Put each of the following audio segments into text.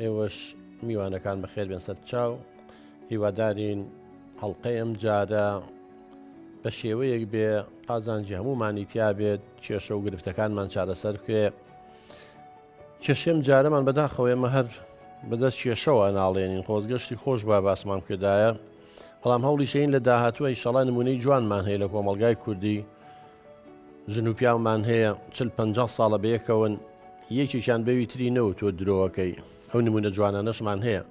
ئێوەش میوانەکان بەخێر بێن سەر چاو هیوادارین هەڵلقەی ئەم جارە بە شێوەیەک بێ قازانجی هەموومانی تیا بێت کێشە و گرفتەکانمان چارەسەر بکرێ کێشێم جارەمان بەداخەوەێمە هەر بەدەست کێشەوە ناڵێنین خۆزگەشتی خۆش بە باسمان کردایە بەڵام هەوڵیشین لە داهاتووە ئیشەڵا نمونەی جوانمان هەیە لە کۆمەلگای کوردی ژن و پیاومان هەیە چل پەنجا ساڵە بەیەکەوەن یەکێکیان بەوی تری نەوتووە درۆەکەی ئەو نمونە جوانانەشمان هەیە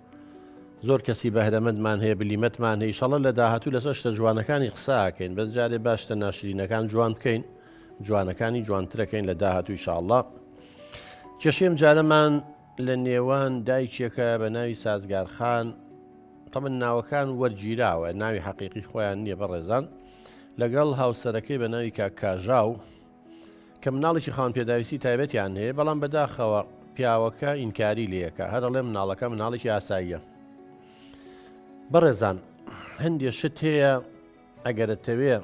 زۆر کەسی بەهرەمەندمان هەیە بلیمەتمان هەیە شەڵە لە داهاتوو لەسەر شتە جوانەکانی قساکەین بەس جارێ باشتە ناشرینەکان جوان بکەین جوانەکانی جوانترەکەین لە داهاتووی شاءله کێشێم جارەمان لە نێوان دایکێکە بە ناوی سازگار خان تەمەن ناوەکان وەرگیراوە ناوی حەقیقی خۆیان نییە بەڕێزان لەگەڵ هاوسەرەکەی بە ناوی کاک کاژاو کە مناڵێکی خان پێداویستی تایبەتیان هەیە بەڵام بەداخەوە پیاوەکە ئینکاری لەکە هەرڵێ مناڵەکە مناڵێکی ئاساییە بەڕێزان هەندێ شت هەیە ئەگەر ئەتەوێ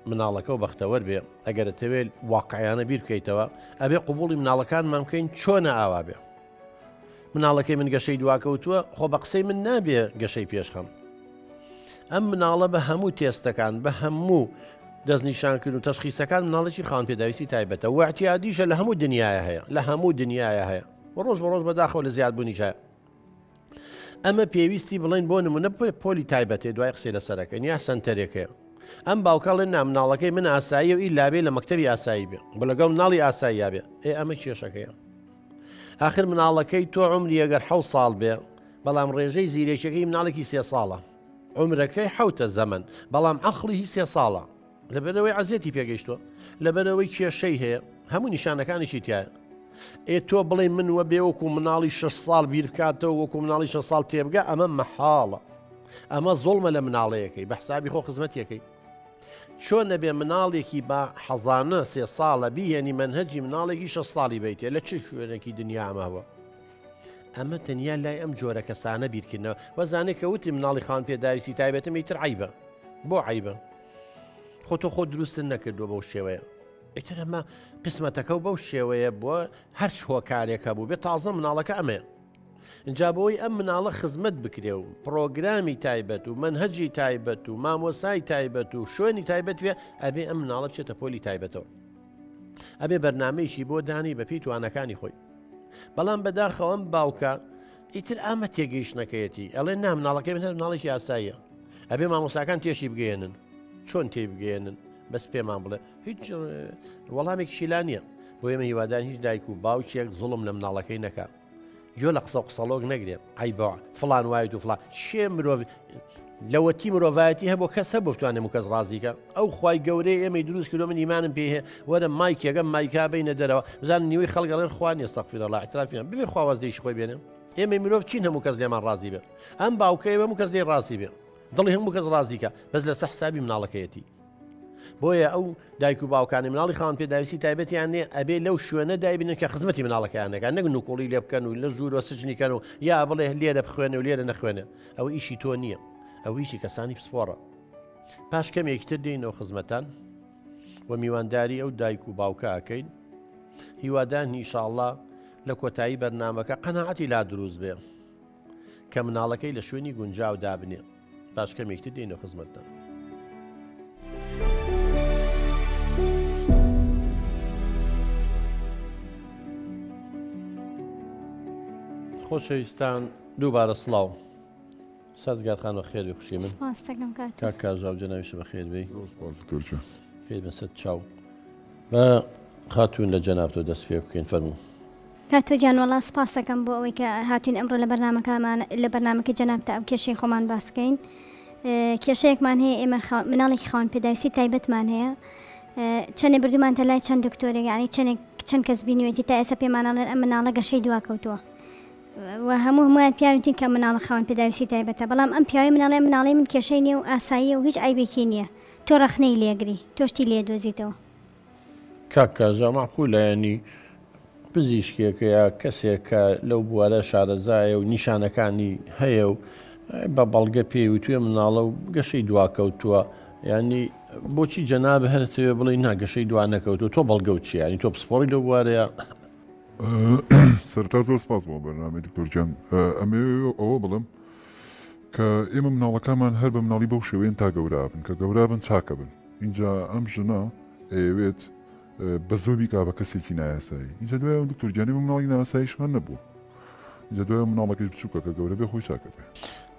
مناڵەکەو بەختەوەر بێ ئەگەر ئەتەوێت واقعیانە بیر بکەیتەوە ئەبێ قوبولی مناڵەکانمان بکەین چۆنە ئاوا بێ مناڵەکەی من گەشەی دواکەوتووە خۆ بە قسەی من نابێ گەشەی پێشخەم ئەم مناڵە بە هەموو تێستەکان بە هەموو دەستنیشانکرد و تەشخیسەکان مناڵێکی خان پێداویستی تایبەتە وعتیادیشە لە هەموو دنیاە هەیە لە هەموو دنیاە هەیە و ڕۆژ بە ڕۆژ بەداخەوە لە زیادبوونیشە ئەمە پێویستی بڵین بۆ نمونە پۆلی تایبەتێ دوای قسەی لەسەرەکە نیا سنتەرێکەیە ئەم باوکڵێن نا مناڵەکەی من ئاسایی و ئی لابێ لە مەکتتەبی ئاسایی بێ بە لەگەڵ مناڵی ئاساییا بێ ئێ ئەمە کێشەکەیە آخر مناڵەکەی تۆ عمری ئەگەر حە ساڵ بێ بەڵام ڕێژەی زیرێکەکەی مناڵێکی سێ ساڵە عمرەکەی حوتە زەمن بەڵام عقلی هی سێ ساڵە لەبەرەوەی عزێتی پێگەیشتووە لەبەرەوەی کێشەی هەیە هەموو نیشانەکانیشی تایە ئێ تۆ بڵێ من وە بێ وەکو مناڵی 6 ساڵ بیرکاتەوە وەکو مناڵی 6 ساڵ تێبگە ئەمە مەحاڵە ئەمە زۆڵمە لە مناڵەیەەکەی بە حسابی خۆ خزمەتەکەی چۆن نەبێ مناڵێکی بە حەزانە سێ ساڵە بیهێنی منهجی مناڵێکی شە ساڵی بیتێ لە چ شوێنێکی دنیامەوە ئەمە تەنیا لای ئەم جۆرە کەسانە بیرکردنەوە وەزانێک کە وتی مناڵی خان پێداویستی تایبەتم ئیتر عیبە بۆ عیبە خۆ تۆ خۆ دروست نەکردووە بەو شێوەیە ئیتر ئەمە قسمەتەکە و بەو شێوەیە بووە هەرچ هۆکارێکە بوو بێ تازە مناڵەکە ئەمەیە اینجا بۆی ئەم مناڵە خزمەت بکرێ و پرۆگرامی تایبەت و منهجی تایبەت و مامۆسای تایبەت و شوێنی تایبەت وێ ئەبێ ئەم مناڵە بچێتە پۆلی تایبەتەوە ئەبێ بەرنمەیەکی بۆ دانی بەپی توانەکانی خۆی بەڵام بەداخەوە ئەم باوکە ئیتر ئامە تێگەیشتنەکەیەتی ئەڵێ نا مناڵەکەی من هەر مناڵێکی ئاساییە ئەبێ مامۆساکان تێشی بگەێنن چۆن تێی بگەێنن بەس پێمان بڵێ هیچ وەڵامێک شیلا نییە بۆ ئێمە هیوادان هیچ دایک و باوکێک زڵم لە مناڵەکەی نەکە یۆ لە قسە قسەڵۆک نەگرێت ئای بەوە فلان وایت و فلان شێ مرۆڤ لەوەتی مرۆڤایەتی هەبوو کەس هەبوو بتوانێ و کەس ڕازیکە ئەو خی گەورەی ئێمەی دروست کردو من ایمانم پێ وەرە مایکێگەم مایکا بینە دەرەوە بزان نیوەی خەڵگەڵێن خوان ێستەقفیرەڵا احترافیان بێ خواواز دەیش خۆی بێنم ئێمەی مرۆڤ چین هەموو کەس لێمان ڕازی بێ ئەم باوکە ئێمە و کەس لێ ڕازی بێ دڵی هەموو کەس ڕازیکە بەس لە سەحسابی مناڵەکەیەتی بۆیە ئەو دایک و باوکانی مناڵی خاون پێداویستی تایبەتیان نێ ئەبێ لەو شوێنە دایبنن کە خزمەتی مناڵەکەیانەکان نەگن و کوڵی لێ بکەن و لە ژوورەوە سجنیکەن و یا بڵێ لێرە بخوێنە و لێرە نەخوێنێ ئەوە ئیشی تۆ نییە ئەوە ئیشی کەسانی پسپۆڕە پاش کەمێکی تر دێنەوە خزمەتان و میوانداری ئەو دایک و باوکە ئەکەین هیوادان نیشاءله لە کۆتایی بەرنمەکە قەنەعەتی لا دروست بێ کە مناڵەکەی لە شوێنی گونجاو دابنێ پاش کەمێکی تر دێنەوە خزمەتتان خۆشەویستان دووبارە سڵاو سازگار خان بەخێر بێ خوشی من سپاس دەکەم کاک کاک کاژاو جەنابیش بەخێر بێی زۆر سپاس دکتۆر گیان خێر بەسەر چاو بە خاتوون لە جەنابتەوە دەست پێ بکەین فەرموو کاتۆ گیان وەڵا سپاس دەکەم بۆ ئەوەی کە هاتوین ئەمڕۆ لە بەرنمەکەمان لە بەرنمەکە جەنابتە ئەم کێشەی خۆمان باس بکەین اه، کێشەیەکمان هەیە ئێمە خا- مناڵێکی خاوەن پێداویستی تایبەتمان هەیە اه، چەندێ بردومانتە لای چەند دکتۆرێک یعنی چەندێک چەند کەس بینیوێتی تا ئێستا پێمانەڵێن ئەم مناڵە گەشەی دواکەوتووە و هەموو هەموویان پیاونتین کە مناڵە خاوەن پێداویستی تایبەتە بەڵام ئەم پیاوەی مناڵێ مناڵی من کێشەی نییە و ئاساییە و هیچ عیبێکی نییە تۆ ڕەخنەی لێگری تۆشتی لێ دۆزیتەوە. کاک کازا مەعقولە یانی پزیشکێکە یا کەسێک کە لەو بوارە شارەزایە و نیشانەکانی هەیە و بە بەڵگە پێی وتوێ مناڵە و گەشەی دواکەوتووە یانی بۆچی جەناب هەرتەوێ بڵی ناگەشەی دوا نەکەوتو تۆ بەڵگەوت چیانی تۆ پسپۆڕی لەو بوارەیە سەرەتا زۆر سپاس بۆ بەرنامەی دکتۆر گیان ئەمەوێ ئەوە بڵم کە ئێمە مناڵەکانمان هەر بە مناڵی بەو شێوەیەن تا گەورابن کە گەورابن چاکە بن اینجا ئەم ژنە ئەیەوێت بە زۆبی کا بە کەسێکی نایاسایی اینجا دوای دکتۆر گیانی بە مناڵی ناساییش هەر نەبوو جەدۆیە مناڵەکەیش بچوکە کە گەورە بێ خۆی چاک ئەبێ.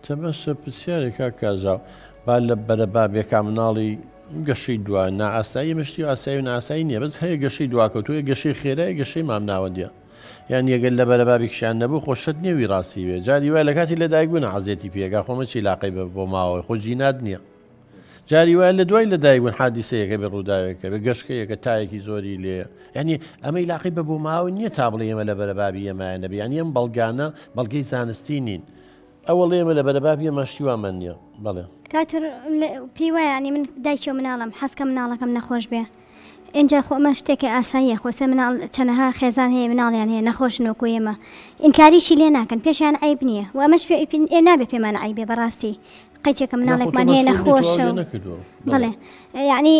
تە بەسە پرسیارێ کاک کازاو با لە بەرە بابێ کا مناڵی گەشەی دوا نا ئاسایی ئمە شتی ئاسایی و ناسایی نیە بەس هەیە گەشەی دواکەوتوو یە گەشەی خێرا یە گەشەی مام ناوەندیە یان یەگەر لە بەرە بابێکشیان نەبوو خۆ شەت نیە وی ڕاستی بێ جاری وای لە کاتی لە دایک بوونا عەزێتی پێ گا خۆ مەچی لاقەی بە بۆ ماوەوەی خۆ جینات نیە جاری وایە لە دوای لەدایکبوون حادیسەیەکە بێ ڕووداوێکە بێ گەشکەیەکە تایەکی زۆری لێ ینی ئەمەی لاقی بە بۆ ماوە نییە تا بڵێ ئێمە لە بەرەبابی ئەمایە نەبێ یان ئەم بەڵگانە بەڵگەی زانستی نین ئەوە لێمە لە بەرەبابی ئەمەشتی وامان نییە بەڵێ کاتر پێی وایانی من دایکی و مناڵم حەزکە مناڵەکەم نەخۆش بێ اینجا خۆ ئەمە شتێکی ئاساییە خۆسێ مناڵ چەنەها خێزان هەیە مناڵیان هەیە نەخۆش نۆکو ئێمە ئینکاریشی لێ ناکەن پێشیان عیب نییە و ئەمەش پێ نابێ پێمان عیبێ بەڕاستی قەیچێکە مناڵێکمان هەیە نەخۆشە بڵێ یعنی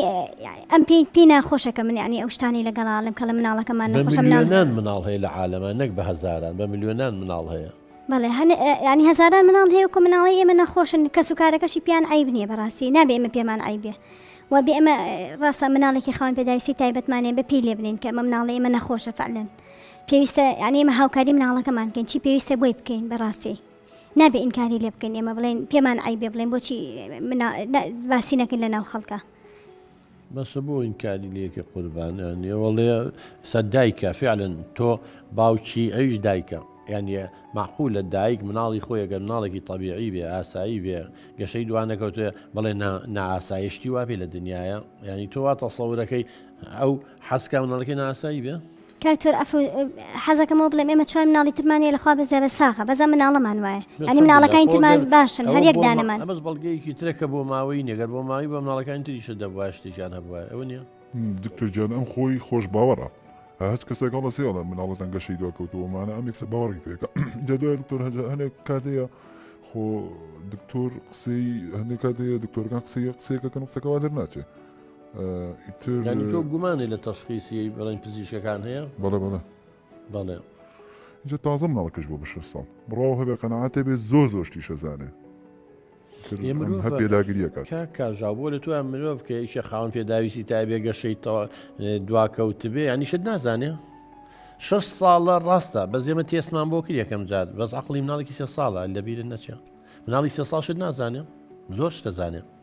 ئەم پێی پێی ناخۆشە کە من ینی ئەو شتانی لەگەڵا لەم کەڵە مناڵەکەمان نەخۆشە منان مناڵ هەیە لە عاالەمە نەک بە هزاران بە میلیۆنان مناڵ هەیە بەڵێ ینی هزاران مناڵ هەیە کە مناڵی ئێمە نەخۆشن کەس و کارەکەشی پیان عیب نییە بەڕاستی نابێ ئمە پێمان عیبێ و بێ ئەمە ڕاستە مناڵێکی خاوان پێداویستی تایبەتمانێ بە پێی لێ بنین کە ئەمە مناڵی ئێمە نەخۆشە فعلن پێویستە یعنی ئمە هاوکاری مناڵەکەمان کەین چی پێویستە بۆی بکەین بەڕاستی نابێ ئینکاری لێ بکەین ئێمە بڵێن پێمان عیبێ بڵێن بۆچی باسی نەکەین لە ناو خەڵکە. بەسە بۆ ئینکاری لەکە قوربان نێوەڵێ سە دایکە فعلن تۆ باوکی ئەویش دایکە یعنی معقول لە دایک مناڵی خۆی گەر مناڵێکی طببیعی بێ ئاسایی بێ گەشەی دوانەکەوتێ بڵێ ناسایشتی واپی لە دنیاە ینی تۆ وا تەسەورەکەی ئەو حەزکە مناڵەکەی ناسایی بێ کاکتۆر ئەفەو حەزەکەم ئەوە بڵێم ئێمە چوار مناڵی ترمان هەیە لەخوا بەزیا بە ساغە بەس ئەم مناڵەمان وایە یانی مناڵەکانی ترمان باشن هەر یەک دانەمان ئەمەش بەڵگەیەکی ترە کە بۆ ماوەیی نیە گەر بۆ ماوەی بە مناڵەکانی تریشت دەبوایە شتێکیان هەبوایە ئەوە نیە دکتۆر گیان ئەم خۆی خۆش باوەڕە هە هەچ کەسێک هەڵە سێ هەڵە مناڵەتان گەشەی دوا کەوتووە مانە ئەم یەکسەر باوەڕی پێکە جا دوای دکتۆر هەجا هەنێک کات هەیە خۆ دکتۆر قسەی هەندێک کات هەیە دکتۆرەکان قسەی قسەیەکەکەن قسەکەوا دەرناچێت تۆ گومانی لە تەشخیسی بڵین پزیشەکان هەیە بەڵێ بەڵێ بەڵێ جە تازە مناڵکەش بۆ بەشە ساڵ بڕاو هەبێ قەنەعاتێ بێ زۆر زۆر شتیشە زانێ پێداگریەکە کاژا بۆ لە تویان مرۆڤ کە یشە خاون پێداویستی تا بێ گەشەی دواکەوت بێ ینی شت نازانێ شش ساڵە ڕاستە بە زێمە تێسمان بۆ کرد یەکەم جار بەس عقلی مناڵێکی سێ ساڵە لەبیرن نەچێ مناڵی سێ ساڵ شت نازانێ زۆر شتە زانێ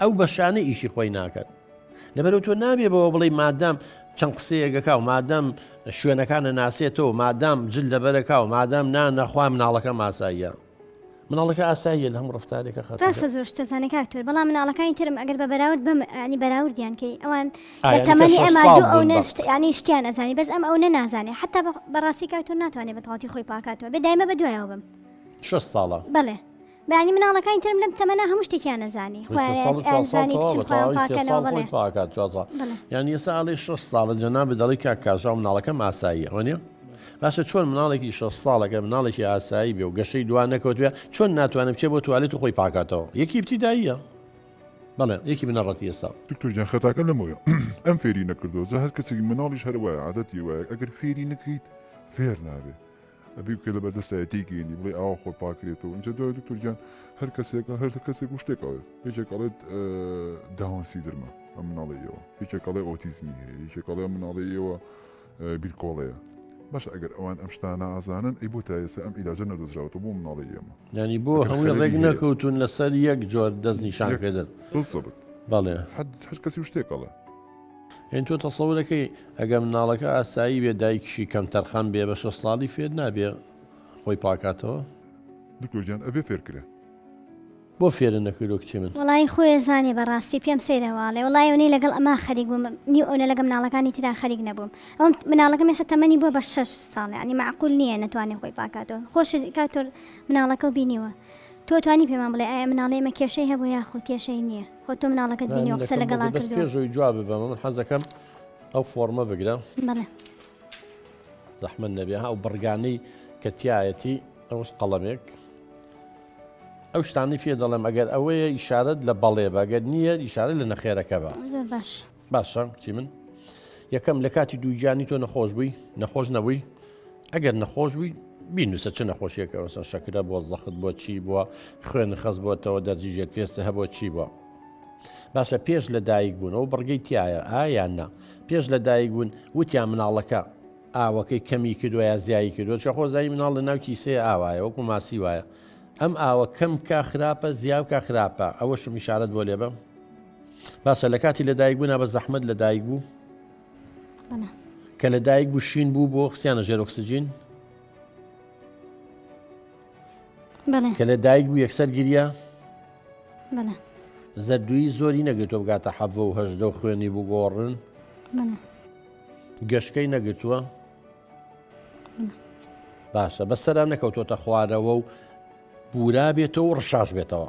ئەو بەشانە ئیشی خۆی ناکەن لەبەرو تۆ نابێ بەوە بڵی مادام چەند قسەیەگەکە و مادەم شوێنەکانە ناسێتەوە مادام جل لەبەرەکە و مادام نا نەخوا مناڵەکە ماساییە مناڵەکە ئاساییە لە هەم ڕفتارێکە خە ڕاستە زۆر شتەزانانی کاکتۆر بەڵام مناڵەکانی ترم ئەگەر بە بەراورد بم ئەنی بەراوردیان کەی ئەوان تەمەنی ئەما ئەو نشتیانی شتیان ئەزانی بەس ئەم ئەو نەنازانێ حتا بەڕاستی کاکتۆر ناتوانێت بە تەواتی خۆی پاکاتەوە بێ دایمە بە دوایەوە بم شش ساڵە بڵێ بەیانی مناڵەکانی ترم لەم تەمەە هەموو شتێکیان نەزانی یانی ئێستا ئاڵی 6 ساڵە جەنابە دەڵی کا کاژاو مناڵەکە ئاساییە ئەوە نیە باشە چۆن مناڵێکی 6 ساڵەکە مناڵێکی ئاسایی بێ و گەشەی دوا نەکەوتێ چۆن ناتوانم چێ بۆ توالێت و خۆی پاکاتەوە یەکی ابتیداییە بەڵێ یەکی بنەڕەتی ئێستا دکتۆرجان خەتاکە لەمەوە ئەم فێری نەکردۆزە هەر کەسێکی مناڵیش هەروایە عادەتی وایە ئەگەر فێری نەکەیت فێر نابێت ئەبی بکەی لە بەردەستا ئەتێی گەینی بڵێ ئاوا خۆر پاکرێتەوە اینجا دوای دکتۆر گیان هەر کەسێکە هەر کەسێک و شتێک ئەڵێت یەکێک ئەڵێت داون سیدرمە ئەم مناڵی ئێوە یەکێک ئەڵێ ئۆتیزمی هەیە یەکێک ئەڵێ مناڵی ئێوە بیرکۆڵەیە باش ئەگەر ئەوان ئەم شتانە ئازانن ئەی بۆ تا ئێستا ئەم ئیلاجە نەدەزراوەوە بۆ مناڵی ئێمە ینی بۆ هەمووی ڕێک نەکەوتون لەسەر یەک جۆر دەست نیشان پێدەن بڵێ هەر کەسی شتێکەڵە یانی تۆ تەسەورەکەی ئەگەر مناڵەکە ئاسایی بێ دایکیشی کەم تەرخان بێ بە شەست ساڵی فێر نابێ خۆی پاکاتەوە؟ دکتۆر گیان ئەبێ فێر کرێ. بۆ فێرە نەکردوە کچێ من. وەڵایی خۆێ زانێ بەڕاستی پێم سەیرە واڵێ وەڵای ئەونەی لەگەڵ ئەما خەریک بووم نیو ئەونە لەگە مناڵەکانی تران خەریک نەبووم ئەوم مناڵەکە مێسە تەمەنی بۆ بە شەش ساڵ عنی معقول نییە نەتوانێ خۆی پاکاتەوە خۆش کاتۆر مناڵەکە و بینیوە تۆ توانی پێمان بڵێ ئایا مناڵێمە کێشەی هەبوو یاخود کێشەی نییە خۆ تۆ مناڵەکەت بینی و قسە لەگەڵا کردووە. بەس پێ زۆی جواب بەمە من حەزەکەم ئەو فۆرمە بگرە زەحمە نەبێ ئەو بڕگانەی کە تایەتی ئەوش قەڵەمێک ئەو شتانی پێ دەڵێم ئەگەر ئەوەیە ئیشارەت لە بەڵێ بەگەر نییە ئیشارە لە نەخێرەکە بە باش. باشە کچی من یەکەم لە کاتی دووگیانی تۆ نەخۆش بووی نەخۆش نەبووی ئەگەر نەخۆش بووی بینوسە چ نەخۆشیەکەەوەسە شەکرە بۆ زەخت بۆ چی بووە خوێن خەز بۆتەوە دەرزی ژێر پێستە هەبوو چی بووە باشە پێش لە دایک بوون ئەو بڕگەی تایە ئایان نا پێش لە دایک بوون وتیان مناڵەکە ئاوەکەی کەمی کردوە یا زیایی کردو چە خۆزایی مناڵ لە ناو کیسێ ئاوایە وەکو ماسی وایە ئەم ئاوە کەم کا خراپە زیاوکە خراپە ئەوە شمیشارت بۆ لێبم باسە لە کاتی لە دایک بوونا بە زەحمت لە دایک بوو کە لە دایک بوو شین بوو بۆ خسیانە ژێر ئۆکسسیجین کە لە دایک بوو یەکسەر گیرە زەردووی زۆری نەگرتۆ بگاتە حەڤە و هەشدە و خوێنی بگۆڕن گەشتەکەی نەگرتووە باشە بەسەرا نەکەوتۆتە خوارەوە و بورا بێتەوە و ڕشاش بێتەوە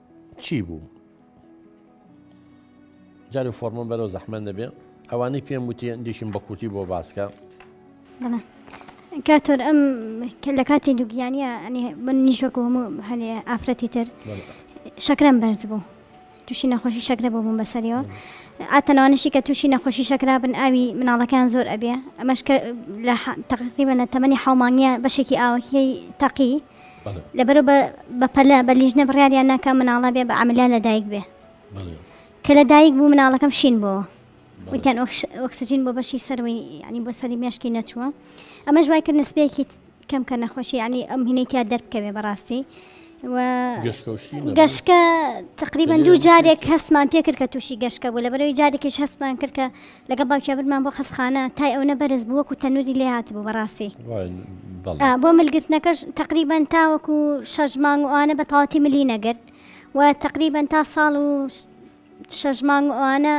چی بوو؟ جارێ فۆرمم بەرەو زەحمەن دەبێ ئەوانەی پێم وتی دیشم بە کورتی بۆ باسکە کاتۆر ئەم کە لە کاتی دوگیانە من نیشۆک هەموو هەنێ ئافرەتی تر شەکرم بەرز بوو تووشی نەخۆشی شەکرە بۆ بووم بەسەریەوە ئاتەنەوانشی کە تووشی نەخۆشی شەکرا بن ئاوی مناڵەکان زۆر ئەبێ ئەمەش کە لە تەقیبە لە تەمەنی حڵمانە بەشێکی ئاوەکیی تەقی لەبەرو بە بەپەلە بە لیژنە بڕیاریان ناکە مناڵە بێ بە ئەملا لەدایک بێ کە لەدایک بوو مناڵەکەم شین بۆ وتیان ئۆکسسیجین بۆ بەشی سەروی ینی بۆ سەری مێشکی نەچووە ئەمە ژوای کرد نسبێکی کەم کە نەخۆشی ینی ئەم هینەی تیا دەربکەوێ بەڕاستی گەشکە تقریبان دوو جارێک هەستمان پێکرد کە تووشی گەشکە بوو لە بەرەوەی جارێکیش هەستمان کرد کە لەگەڵ باوکیا برمان بۆ قەسخانە تای ئەونە بەرز بوو وەکو تەنوری لێ هاتبوو بەڕاستی بۆ ملگرتنەکەش تقریبان تاوەکو شەژ مانگ و ئەوانە بە تەواتی ملی نەگرت و تقریبان تا ساڵ و شەژ مانگ و ئەوانە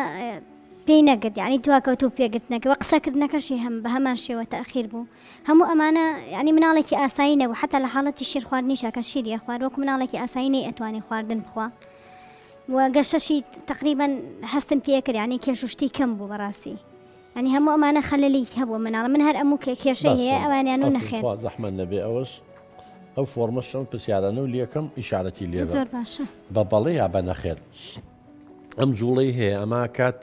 پێی نەگرت ینی دواکەوت و پێگرتنەکەەوە قسەکردنەکەشی هەم بە هەمان شێوە تاخیر بوو هەموو ئەمانە ینی مناڵێکی ئاسایی نەبوو حتا لە حاڵەتی شیر خواردنیشەکە شیری خوارد وەکو مناڵێکی ئاسایی نەی ئەتوانی خواردن بخوا. و گەشەشی تەقریبەن هەستم پێ کرد یعنی کێش و شتی کەم بوو بەڕاستی ئەنی هەموو ئەمانە خەلەلی هەبوو مناڵە من هەر ئەموو کە کێشە هەیە ئەوانیان و نەخێر خوا زەحمەت نەبێ ئەوەش ئەو فۆرمە شەم پرسیارانە و لەکەم ئیشارەتی لێ زۆر باشە بە بەڵێ یا بە نەخێر ئەم جوڵەی هەیە ئەما کات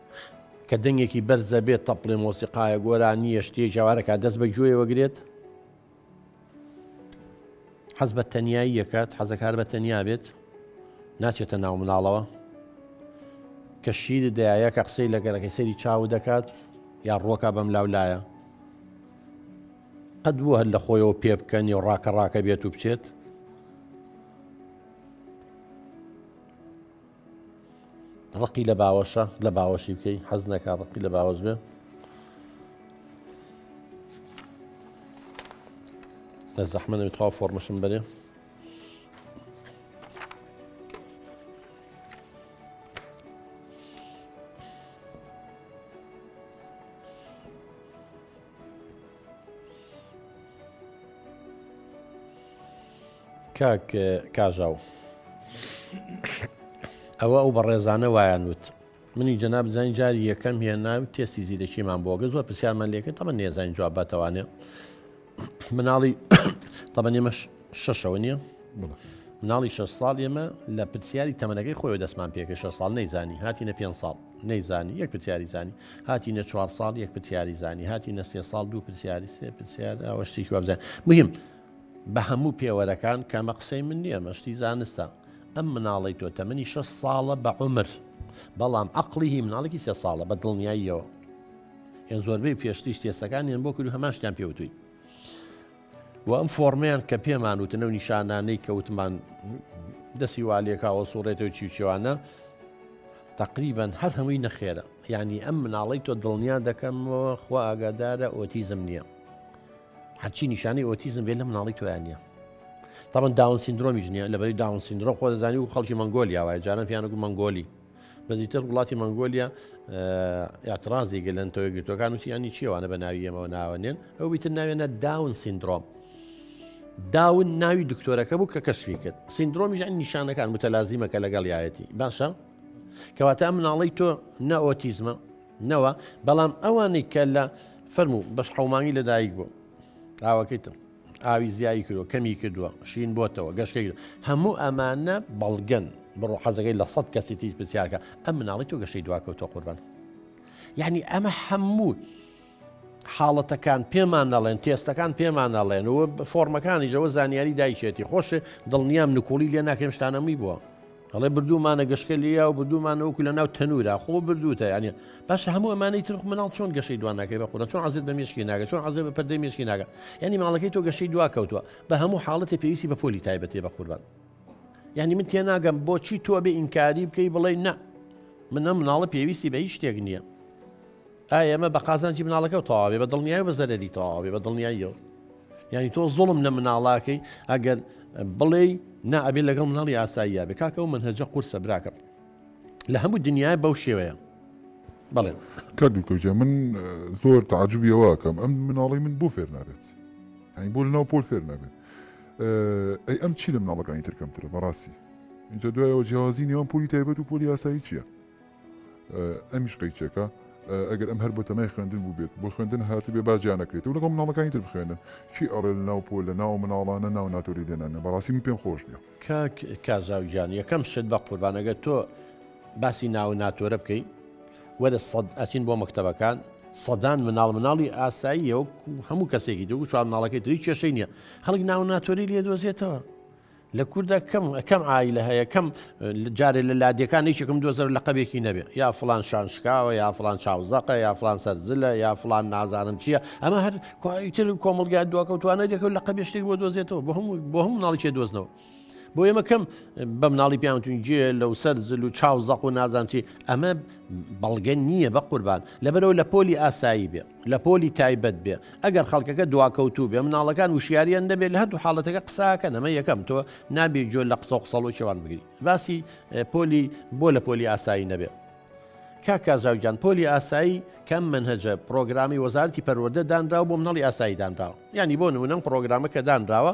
کە دەنگێکی بەرز ئەبێت تەپڵێ مۆسیقایە گۆرانییە شتێک جاوارەکە دەست بە گوێیەوە گرێت حەز بە تەنایی یەکات حەزەکار بە تەنیا بێت ناچێتە ناو مناڵەوە کە شیر دایە کە قسەی لە گەرەکەی سەری چاو دەکات یا ڕۆکە بەم لاو لایە قەت بوو هەر لە خۆیەوە پێ بکەن و ڕاکە ڕاکە بێت و بچێت ڕقی لە باوەشە لە باوەشی بکەی حەز نەکە ڕقی لە باوەش بێ لە زەحمە نەوێت خوا فۆرمەشم بەرێ کاک کاژاو ئەوە ئەو بەڕێزانە وایان وت منی جەناب زانین جاری یەکەم هێنا و تێستی زیرەکیمان بۆگە زۆر پرسیارمان لێکرد تەمە نێزانین جواب باتەوانێ مناڵی تەمە نێمە شەشەوە نییە مناڵی شە ساڵ ئێمە لە پرسیاری تەمەنەکەی خۆی دەستمان پێکە شە ساڵ نەیزانی هاتیینە پێ ساڵ نەیزانی یەک پرسیاری زانی هاتینە چوار ساڵ یەک پرسیاری زانی هاتینە سێ ساڵ دوو پرسیاری سێ پرسیار ئەوە شتێکی وابزان مهم بە هەموو پێوەرەکان کەمە قسەی من نییە مەشتی زانستە ئەم مناڵی تۆ تەمەنی شە ساڵە بە عمر بەڵام عقلی هی مناڵێکی سێ ساڵە بە دڵنیاییەوە یان زۆربەی پێشتیش تێسەکان یان بۆ کرد هەماشتیان پێوتوی و ئەم فۆرمیان کە پێمان وتنە و نیشانانەی کەوتمان دەسی والێکاوە سوڕێتەوە چیوچێوانە تقریبان هەر هەمووی نەخێرە ینی ئەم مناڵی تۆ دڵنیا دەکەمەوە خوا ئاگادارە ئۆتیزم نییە هەچی نیشانەی ئۆتیزم بێ لە مناڵی تویان نیە تاوان داون سندرۆمیش نیە لەبەری داون سندرۆ خۆ دەزانانی و خەڵکی مەنگۆلیا وایە جاران پیانەکو مەنگۆلی بەزیتر وڵاتی مەنگۆلیا یاترازی گەلەن تۆی گرتوەکان و سیانی چیوانە بە ناوی ئەمەوە ناوەنێن ئەو بیتر ناوێنە داون سندرۆم. داون ناوی دکتۆرەکە بوو کە کەشفی کرد سندرۆمیش ئەن نیشانەکان متەلازیمەکە لەگەڵ یایەتی باشە کەواتە مناڵی تۆ نە ئۆتیزمە نەوە بەڵام ئەوانەی کە لە فەرموو بەس حومانی لەدایک بوو ئاوەکەیتم ئاوی زیایی کردو کەمی کردووە شین بۆتەوە گەشتەی کرد هەموو ئەمانە بەڵگەن بڕۆ حەزەکەی لە سەد کەسی تیش پرسیارکە ئەم مناڵی تۆ گەشتەی دواکەوتۆ قوربان یعنی ئەمە هەموو حاڵەتەکان پێمان نەڵێن تێستەکان پێمان نەڵێن و فۆرمەکانیشەوە زانیاری دایشێتی خۆش دڵنیام نکۆڵی لێ ناکەم شتانەمی بووە ئەڵێ بردوومانە گەشکە لیا و بردوومانە وەکو لە ناو تەنورا خۆ بردووتە یانە باشە هەموو ئەمانەی ترخ مناڵ چۆن گەشەی دوان ناکەی بە قورە چۆن عزیز بە مشکی ناگە چۆن عزیز بە پردەی مشکی ناگە ینی ماڵەکەی تۆ گەشەی دوا کەوتووە بە هەموو حاڵەتی پێویستی بە پۆلی تایبەتێ بە قوربان یعنی من تێناگەم بۆچی تۆ بێ ئینکاری بکەی بڵێ نە منە مناڵە پێویستی بە هیچ شتێک نییە ئایا ئەمە بە قازانجی مناڵەکەو تەواوەبێ بە دڵنیایەو بە زەرەری تەواوەبێ بە دڵنیاییەوە یانی تۆ زوڵم لە مناڵە ئەکەی ئەگەر بڵێی نا ئەبێ لەگەڵ مناڵی ئاساییە بێ کاکە و منهجە قورسە براکەم لە هەموو دنیای بەو شێوەیە بڵێ کاک دکتۆرجە من زۆر تعجبیەوەکەم ئەم مناڵی من بۆ فێر نابێت هەین بۆ ناو پۆل فێر نابێت ئەی ئەم چی لە مناڵەکانی ترکەمترە بەڕاستی اینجا دوایەوە جیاوازی نێوان پۆلی تایبەت و پۆلی یاسایی چییە؟ ئەمیش قەیچەکە ئەگەر ئەم هەر بەتەمای خوێندن بووبێت بۆ خوێندن هاتبێ باجیا نەکرێت و لەگەڵ مناڵەکانی تر بخوێنن چی ئەڕێ لە ناو پۆل لە ناو مناڵانە ناو ناتۆری لێنانە بەڕاستی من پێم خۆش نیە کاک کازاو گیان یەکەم شت بە قوربان ئەگەر تۆ باسی ناو ناتۆرە بکەین وەرە سەد ئەچین بۆ مەکتتەبەکان سەدان مناڵ مناڵی ئاساییە و هەموو کەسێکی دو چوار مناڵەکەی تری کێشەی نییە خەڵک ناو ناتۆری لێ دۆزێتەوە لە کوردە کەم کەم ئایلە هەیە کەم جارێ لە لادێکان یەکێکم دۆزەر لە قەبێکی نەبێ یا فلان شان شکاوە یا فلان چاوزەقە یا فلان سەرزلە یا فلان نازانم چییە ئەمە هەر کوتر کۆمەلگای دواکەوتوانە دەکەوت لە قەبێ شتێک بۆ دۆزێتەوە بۆ هەموو بۆ هەموو ناڵیکێ دۆزنەوە. بۆ ئێمە کەم بە مناڵی پیاوتون جێ لەو سەر زل و چاو زەق و نازانچی ئەمە بەڵگە نییە بە قوربان لەبەرەوە لە پۆلی ئاسایی بێ لە پۆلی تایبەت بێ ئەگەر خەڵکەکە دواکەوتوو بێ مناڵەکان وشیاریان نەبێ لە هەردوو حاڵەتەکە قساکەن ئەمە یەکەم تۆ نابێ گوێ لە قسە و قسەڵۆ کێوان بگری باسی پۆلی بۆ لە پۆلی ئاسایی نەبێ کاکازاوگیان پۆلی ئاسایی کەم منهجە پرۆگرامی وەزارتی پەروەەردە دانراو بۆ منەڵی ئاسایی دانراوە ینی بۆ نمونەم پرۆگرامەکە دانراوە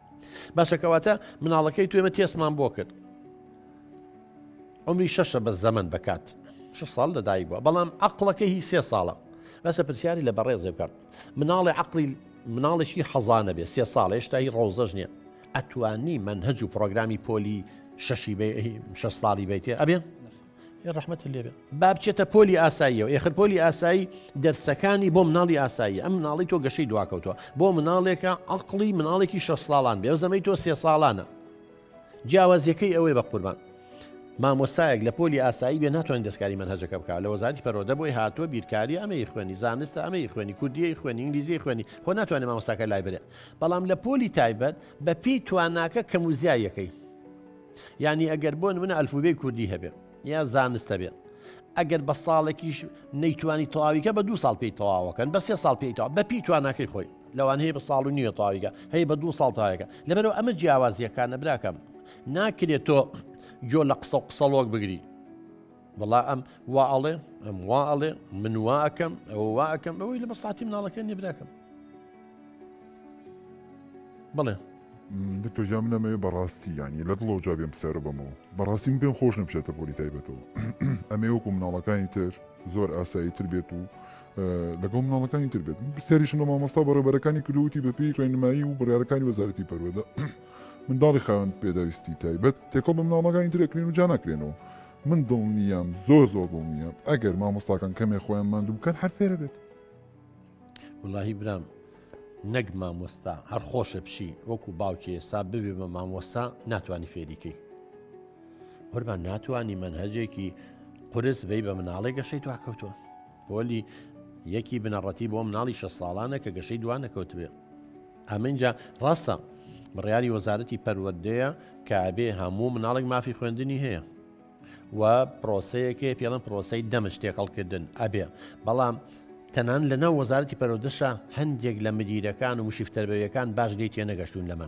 باشە کەواتە مناڵەکەی تو ئێمە تێسمان بۆ کرد عمری شەشە بە زەمن دەکات شش ساڵ لەدایک بووە بەڵام عقلەکە هی سێ ساڵە بەسە پرسیاری لە بەڕێزێ بکەم مناڵی عقلی مناڵێکی حەزانە بێ سێ ساڵ هێشتایی ڕۆزەش نییە ئەتوانی من هەج و پرۆگرامی پۆلی شەشی شە ساڵی بیتێ ئەبێ ڕحمەت لێبێ با بچێتە پۆلی ئاساییەوە ئێخر پۆلی ئاسایی دەرسەکانی بۆ مناڵی ئاسایی ئەم مناڵی تۆ گەشەی دواکەوتوە بۆ مناڵێکە عقلی مناڵێکی شە ساڵان بێ زەمەی تۆ سێ ساڵانە جیاوازیەکەی ئەوەی بە قوربان مامۆسایەک لە پۆلی ئاسایی بێ ناتوانین دەستکاری من هەجەکە بک لە وەزاری پەرۆدە بۆی هاتووە بیرکاری ئەمەی خوێنی زانستە ئەمەی خوێنی کوردی خوێنی ئینگلیزی خوێنی خۆ ناتوانێت مامۆساکە لای برێ بەڵام لە پۆلی تایبەت بە پێی تواناکە کەم و زیایەکەی یانی ئەگەر بۆ نمونە ئەلفوبێی کوردی هەبێ یا زانست هەبێ ئەگەر بە ساڵێکیش نەیتوانی تەواویکە بە دو ساڵ پێی تەواوەکەن بە سێ ساڵ پێیتەوە بە پێی تواناکەی خۆی لەوان هەیە بە ساڵ و نیوە تەواویکە هەیە بە دو ساڵ تاوەکە لەبەرەوە ئەمە جیاوازیەکانە براکەم ناکرێت تۆ جۆ لە قسە و قسەڵۆک بگری وەڵا ئەم وا ئەڵێ ئەم وا ئەڵێ من وا ئەەکەم ئەوە وا ئەەکەم ئەوەی لە مەساتی مناڵەکە نیە براکەم بڵێ دکتۆجا من ئەمەوێ بەڕاستی ینی لە دڵەوە جا بێم پسەرە بەمەوە بەڕاستی من پێم خۆش نەبچێتە پۆلی تایبەتەوە ئەمێ وەکو مناڵەکانی تر زۆر ئاسایی تر بێت و لەگەڵ مناڵەکانی تر بێت پرسیاریشم لە مامۆستا بەڕێبەرەکانی کردوتی بەپی ڕێنمایی و بڕارەکانی وەزارەتی پەروەدە منداڵی خاوەند پێداویستی تایبەت تێکەڵ بە مناڵەکانی ترەکرێن و جا ناکرێنەوە من دڵنیام زۆر زۆر دڵنیام ئەگەر مامۆستاکان کەمێ خۆیان ماندوو بکەن هەر فێرە بێت وڵی برام نەک مامۆستا هەر خۆشە بچی وەکو باوکی ئێستا ببێ بە مامۆستا ناتوانانی فێریکەی قوربان ناتوانانی منهجێکی قرس بی بە مناڵێک گەشەی دواکەوتووە پۆلی یەکی بنەڕەتی بۆ مناڵی شە ساڵانە کە گەشەی دوا نەکەوتبێ ئەمەجا ڕاستە بڕیاری وەزارەتی پەروەردەیە کە ئەبێ هەموو مناڵێک مافی خوێندنی هەیە و پرۆسەیەکێ پێڵم پرۆسی دەمش تێکەڵکردن ئەبێ بەڵام تەنان لەناو وەزارەتی پەرۆدەشە هەندێک لە مدیرەکان و مشیفتەربەویەکان باش لی تێنەگەشتون لەمە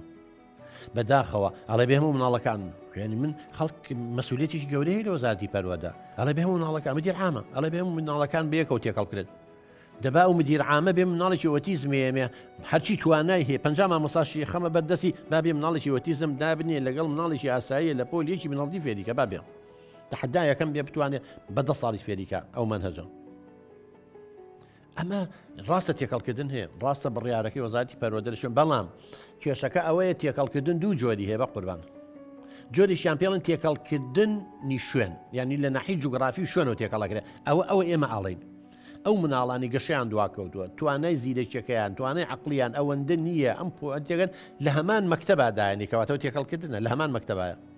بە داخەوە ئەڵێ بێ هەموو مناڵەکان خوێنی من خەڵک مەسولێتیش گەورەی لە وەزارتی پەروەدا ئەڵێ بێ هەموو مناڵەکان مدیر عامە ئەڵێ بێ مناڵەکان بەیەکەو تێکەڵ بکرێت دەبا و مدیر عامە بێ مناڵێکی ئۆتیزمێمێ هەرچی توانای هەیە پنج مامۆساشی خەمە بەردەسی بابێ مناڵێکی ئۆتیزم دابنێ لەگەڵ مناڵێکی ئاساییە لە پۆل یەکی مناڵدی فێریکە بابێ تحدایەکەم بێ بتوانێت بە دە ساڵی فێریکە ئەو من هەجم ئەمە ڕاستە تێکەڵکردن هەیە ڕاستە بڕیارەکەی وەزارتی پەروەدەرشن بەڵام کێشەکە ئەوەیە تێکەڵکردن دوو جۆری هەیە بە قوربان جۆریشیان پێڵن تێکەڵکردن نیشوێن ینی لە ناحی جوگرافی شوێن و تێکەڵەکرێت ئەوە ئەوە ئێمە ئاڵین ئەو مناڵانی گەشیان دواکەوتووە توانای زیرەکیەکەیان توانای عقلیان ئەوەندە نییە ئەم پوەتێگەن لە هەمان مەکتتەبادایانی کەواتەوە تێکەڵکردنە لە هەمان مەکتتەبایە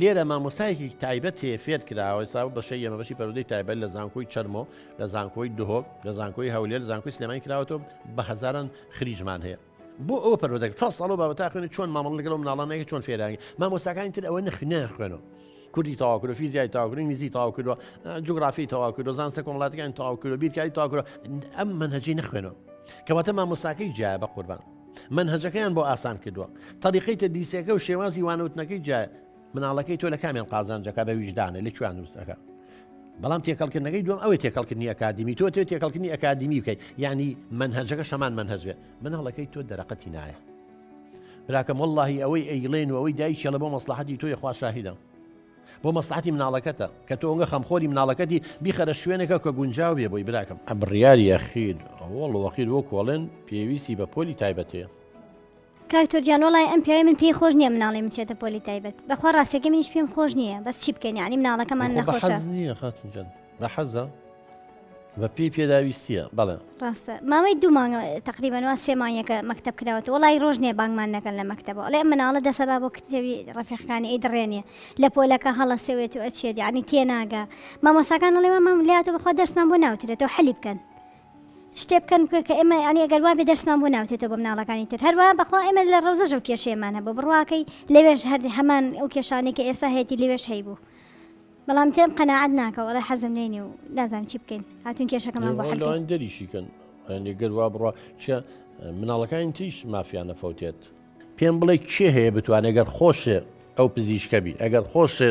لێرە مامۆستایەکی تایبەت هەیە فێر کراوە ئێستا بوو بەشەی ئێمە بەشی پەرودەی تایبەت لە زانکۆی چەرمۆ لە زانکۆی دهۆک لە زانکۆی هەولێر زانکۆی سلێمانی کراوەتەوە بە هەزاران خریجمان هەیە بۆ ئەوە پەرۆدەک چوار ساڵ بابە تاخوێنی چۆن مامەڵ لەگەڵ و مناڵانەیە چۆن فێرانگە مامۆستاکانی تر ئەوە نەخنە خوێنەوە کوردی تاواکرۆ فیزیای تاواکرۆ میزی تاواکردوە جوگرافی تاواکردۆ زانسە کۆمەڵاتەکان تاواکرۆ بیرکاری تاواکرۆ ئەم منهجی نەخوێنەوە کەواتە مامۆستاکەی جیا بە قوربان مەنهەجەکەیان بۆ ئاسان کردووە. تەریقەی تەدریسەکە و شێوازی وانەوتنەکەی جیایە. مناڵەکەی تۆ لە کامیان قازانج ئەکا بە ویژدانێ لە کوێیان دروست ئەکا. بەڵام تێکەڵکردنەکەی دووەم ئەوەی تێکەڵکردنی ئەکادیمی تۆ تۆ تێکەڵکردنی ئەکادیمی بکەیت یعنی مەنهەجەکە شەمان مەنهەج بێ مناڵەکەی تۆ دەرەقەتی نایە. براکەم واللهی ئەوەی ئەیڵێن و ئەوەی دایکیڵە بۆ مەسلحەتی تۆی خوا شاهیدە. بۆ مەسڵەحەتی مناڵەکەتە کە تۆ ئەونگە خەمخۆری مناڵەکەتی بیخەرە شوێنێکە کە گونجاو بێ بۆی براکەم. بڕیار یەخید وەڵ وەخید وەک وەڵێن پێویستی بە پۆلی تایبەت هەیە. کاک تۆر جان وەڵای ئەم پیاوی من پێی خۆش نیە مناڵیم بچێتە پۆلی تایبەت بەخوا ڕاستەکەی منیش پێم خۆش نیە بەس چی بکەین یانی مناڵەکەمان نەخۆشە. بە حەزە بە پێی پێداویستیە بەڵێ ڕاستە ماوەی دوو مانگە تقریبەنەوە سێ مانگەکە مەکتب کراوەتە وڵی ڕۆژ نیە بانگمان نەکەن لە مەکتەبە ئەڵێ مناڵە دەسەبا بۆ کتێوی ڕفیقەکانی ئەی دڕێنێ لە پۆلەکە هەڵەسەوێت و ئەچێت عنی تێناگە مامۆساکان ئەڵێ مام لاتۆ بخوا دەرسمان بۆ ناوترێتەوە حەلی بکەن شتێ بکەن کە ئێمە ینی ئەگەر وابێ دەرسمان بۆ ناوتێتەوە بە مناڵەکانی تر هەروە بەخوا ئێمە لە ڕۆزەژە و کێشێمانە بۆ بڕواکەی لەوێش هەر هەمان ئەو کێشانێک کە ئێستا هەیەی لەوێش هەیبوو بەڵام تێم قەناعەت ناکە وەڵای حەزم لێ نیە و نازانم چی بکەین هاتون کێشەکەمان بۆ حەل کەین. دەریشیکەن هەندێک گەر وا بڕا چە مناڵەکانی تریش مافیانە فەوتێت پێم بڵێ کێ هەیە بتوانێت گەر خۆشێ ئەو پزیشکە بی ئەگەر خۆشێ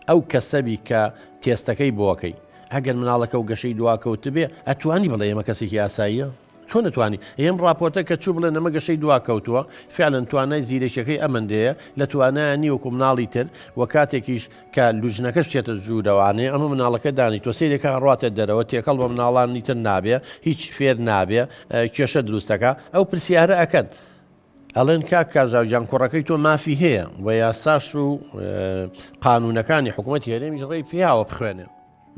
ئەو کەسەبی کە تێستەکەی بۆکەی ئەگەر مناڵەکە و گەشەی دواکەوتبێ ئەتوانی بڵێ ئێمە کەسێکی ئاساییە چۆن ئەتوانی ئێم ڕاپۆرتە کە چوو بڵێن ئەمە گەشەی دوا کەوتووە فعلا توانای زیرەکیەکەی ئەمەندەیە لە توانایان نیە وەکو مناڵی تر وە کاتێکیش کە لوجنەکەش بچێتە ژوورە وانەیە ئەمە مناڵەکە دانیتوە سەیرێکە ئەڕاتە دەرەوە تێکەڵ بە مناڵانی تر نابێ هیچ فێر نابێ کێشە دروستەکە ئەو پرسیارە ئەکەن ئەڵێن کاک کاژاوجان کوڕەکەی تۆ مافی هەیە و یاساش و قانونەکانی حکوومەت هێرێمیش ڕێی پیاوە بخوێنێ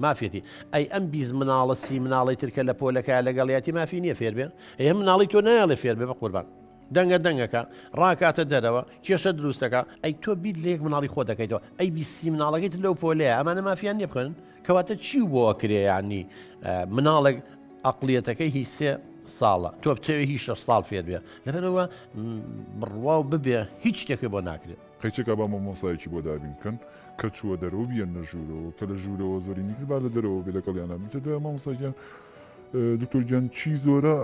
مافیەتی ئەی ئەم بیست مناڵە سی مناڵەی تر کە لە پۆلەکە لەگەڵیاتی مافی نیە فێر بێ ئێ مناڵی تۆ نایەڵێ فێر بێ بە قوربان دەنگە دەنگەکە ڕاکاتە دەرەوە کێشە دروستەکە ئەی تۆ بیت لە یەک مناڵی خۆ دەکەیتەوە ئەی بیست سی مناڵەکەی تر لەو پۆلەیە ئەمانە مافیان نیە بخوێنن کەواتە چی و بۆ ئەکرێ یانی مناڵێک ئەقلیەتەکەی هیچ سێ ساڵە تۆ بتەوێ هیچ شەش ساڵ فێر بێ لەبەرەوە بڕوا و ببێ هیچ شتێکی بۆ ناکرێت قەیچەکە با مامۆستایەکی بۆ دابین بکەن کە چووە دەرەوە بیەنە ژوورەوە کە لە ژوورەوە زۆری نیکر با لە دەرەوە بێ لەگەڵ یانە بچە دوای مامۆستاگیان دکتۆر گیان چی زۆرە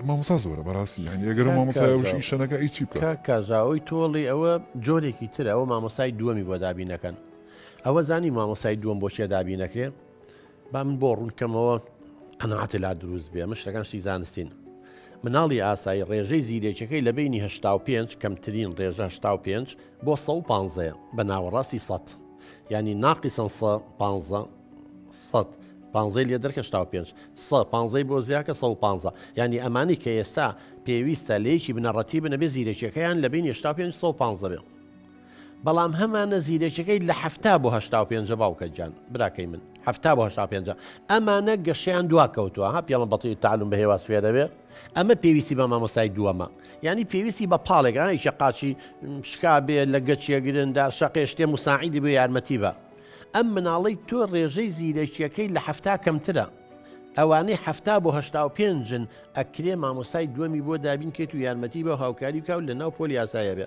مامۆسا زۆرە بەڕاستی هەنی ئەگەر مامۆسایشی شەنەکە ئی چی بکە کازاوی تۆڵی ئەوە جۆرێکی ترە ئەوە مامۆسای دووەمی بۆ دابینەکەن ئەوە زانی مامۆسای دووەم بۆچێ دابینەکرێ با من بۆ ڕوونکەمەوە قەنەعاتێ لا دروست بێ من شتەکان شتی زانستین مناڵی ئاسایی ڕێژەی زیرێکەکەی لە بینی هشتا و پێنج کەمترین ڕێژە هشتا و پێنج بۆ سە و پانزەیە بە ناوەڕاستی سەد ینی ناقیسەن سە پانزە سەد پانزەی لێ دەرکە شتا و پێنج سە پانزەی بۆ زیاکە سە و پانزە ینی ئەمانی کە ئێستا پێویستە لەیەکی بنەڕەتی بنەبێ زیرەکیەکەیان لە بین هشتا پێنج سە و پانزە بێ بەڵام هەمانە زیرەکیەکەی لە حەفتا بۆ هەشتا و پێنجە باوکە گیان براکەی من حەفتا بۆ هەشتا پێنجە ئەمانە گەشیان دوا کەوتووە ها پێڵم بەڵی تعلوم بە هێواز فێرەوێ ئەمە پێویستی بە مامۆسای دووەمە ینی پێویستی بە پاڵێکانێکە قاچی شکا بێ لە گەچیە گرندا شەقێ شتێ مساعیدی بۆ یارمەتی بە ئەم مناڵی تۆ ڕێژەی زیرەکیەکەی لە حەفتا کەمترە ئەوانەی هەفتا بۆ هەشتا و پێنجن ئەکرێ مامۆسای دووەمی بۆ دابین کێت و یارمەتی بە هاوکاری بکە و لە ناو پۆل یاسایە بێ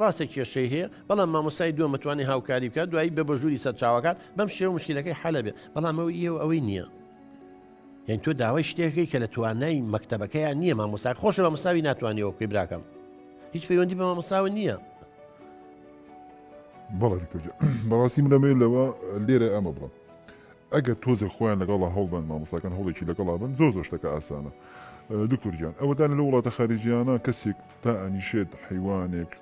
ڕاستە کێشەی هەیە بەڵام مامۆستای دووەم ئەتوانێ هاوکاری بکات دوایی بێ بە ژووری سەرچاوەکان بەم شێوە مشکلەکەی حەلە بێ بەڵام ئەوەی ئێوە ئەوەی نییە یان تۆ داوای شتێکی کە لە توانای مەکتتەبەکەیان نییە مامۆستا خۆشە بە مساوی ناتوانێەوە بکەی براکەم هیچ پەیوەندی بە مامۆساوە نییە بەڵێ بەڕاستی منەمێ لەوە لێرە ئەمە بڵم ئەگەر تۆزێک خۆیان لەگەڵا هەڵبن مامۆساکان هەڵێکی لەگەڵا بن زۆر زۆشتەکە ئاسانە دکتۆر گیان ئەوەدان لە وڵاتە خارجیانە کەسێک دائەنیشێت حەیوانێک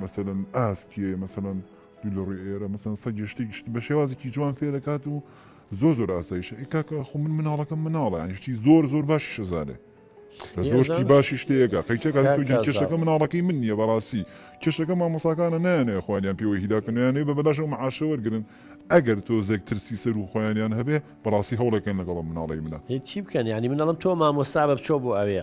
مەسەلەن ئاسکێ مەسەلەن دوو لە ڕووی ئێرە مەسەن سەگێ شتێکی شت بە شێوازێکی جوان فێ دەکات و زۆر زۆر ئاسایشە ئێ کاکە خۆ من مناڵەکەم مناڵە یانی شتی زۆر زۆر باشی شەزانێ لە زۆر شتی باشی شتەیەکە قەیچەکە کاک تۆگی کاک کێشەکە زاڵ. مناڵەکەی من نییە بەڕاستی کێشەکە مامۆساکانە نایانەیە خۆیانیان پێوە هیداکەنیانەیە بە بەلاش ئەو معاشە وەرگرن ئەگەر تۆزێک ترسی سەر و خۆیانیان هەبێ بەڕاستی هەوڵێکن لەگەڵ ئەم مناڵەی منە هی چی بکەن یانی منەڵم تۆ مامۆستا بە بچۆ بۆ ئەوێ.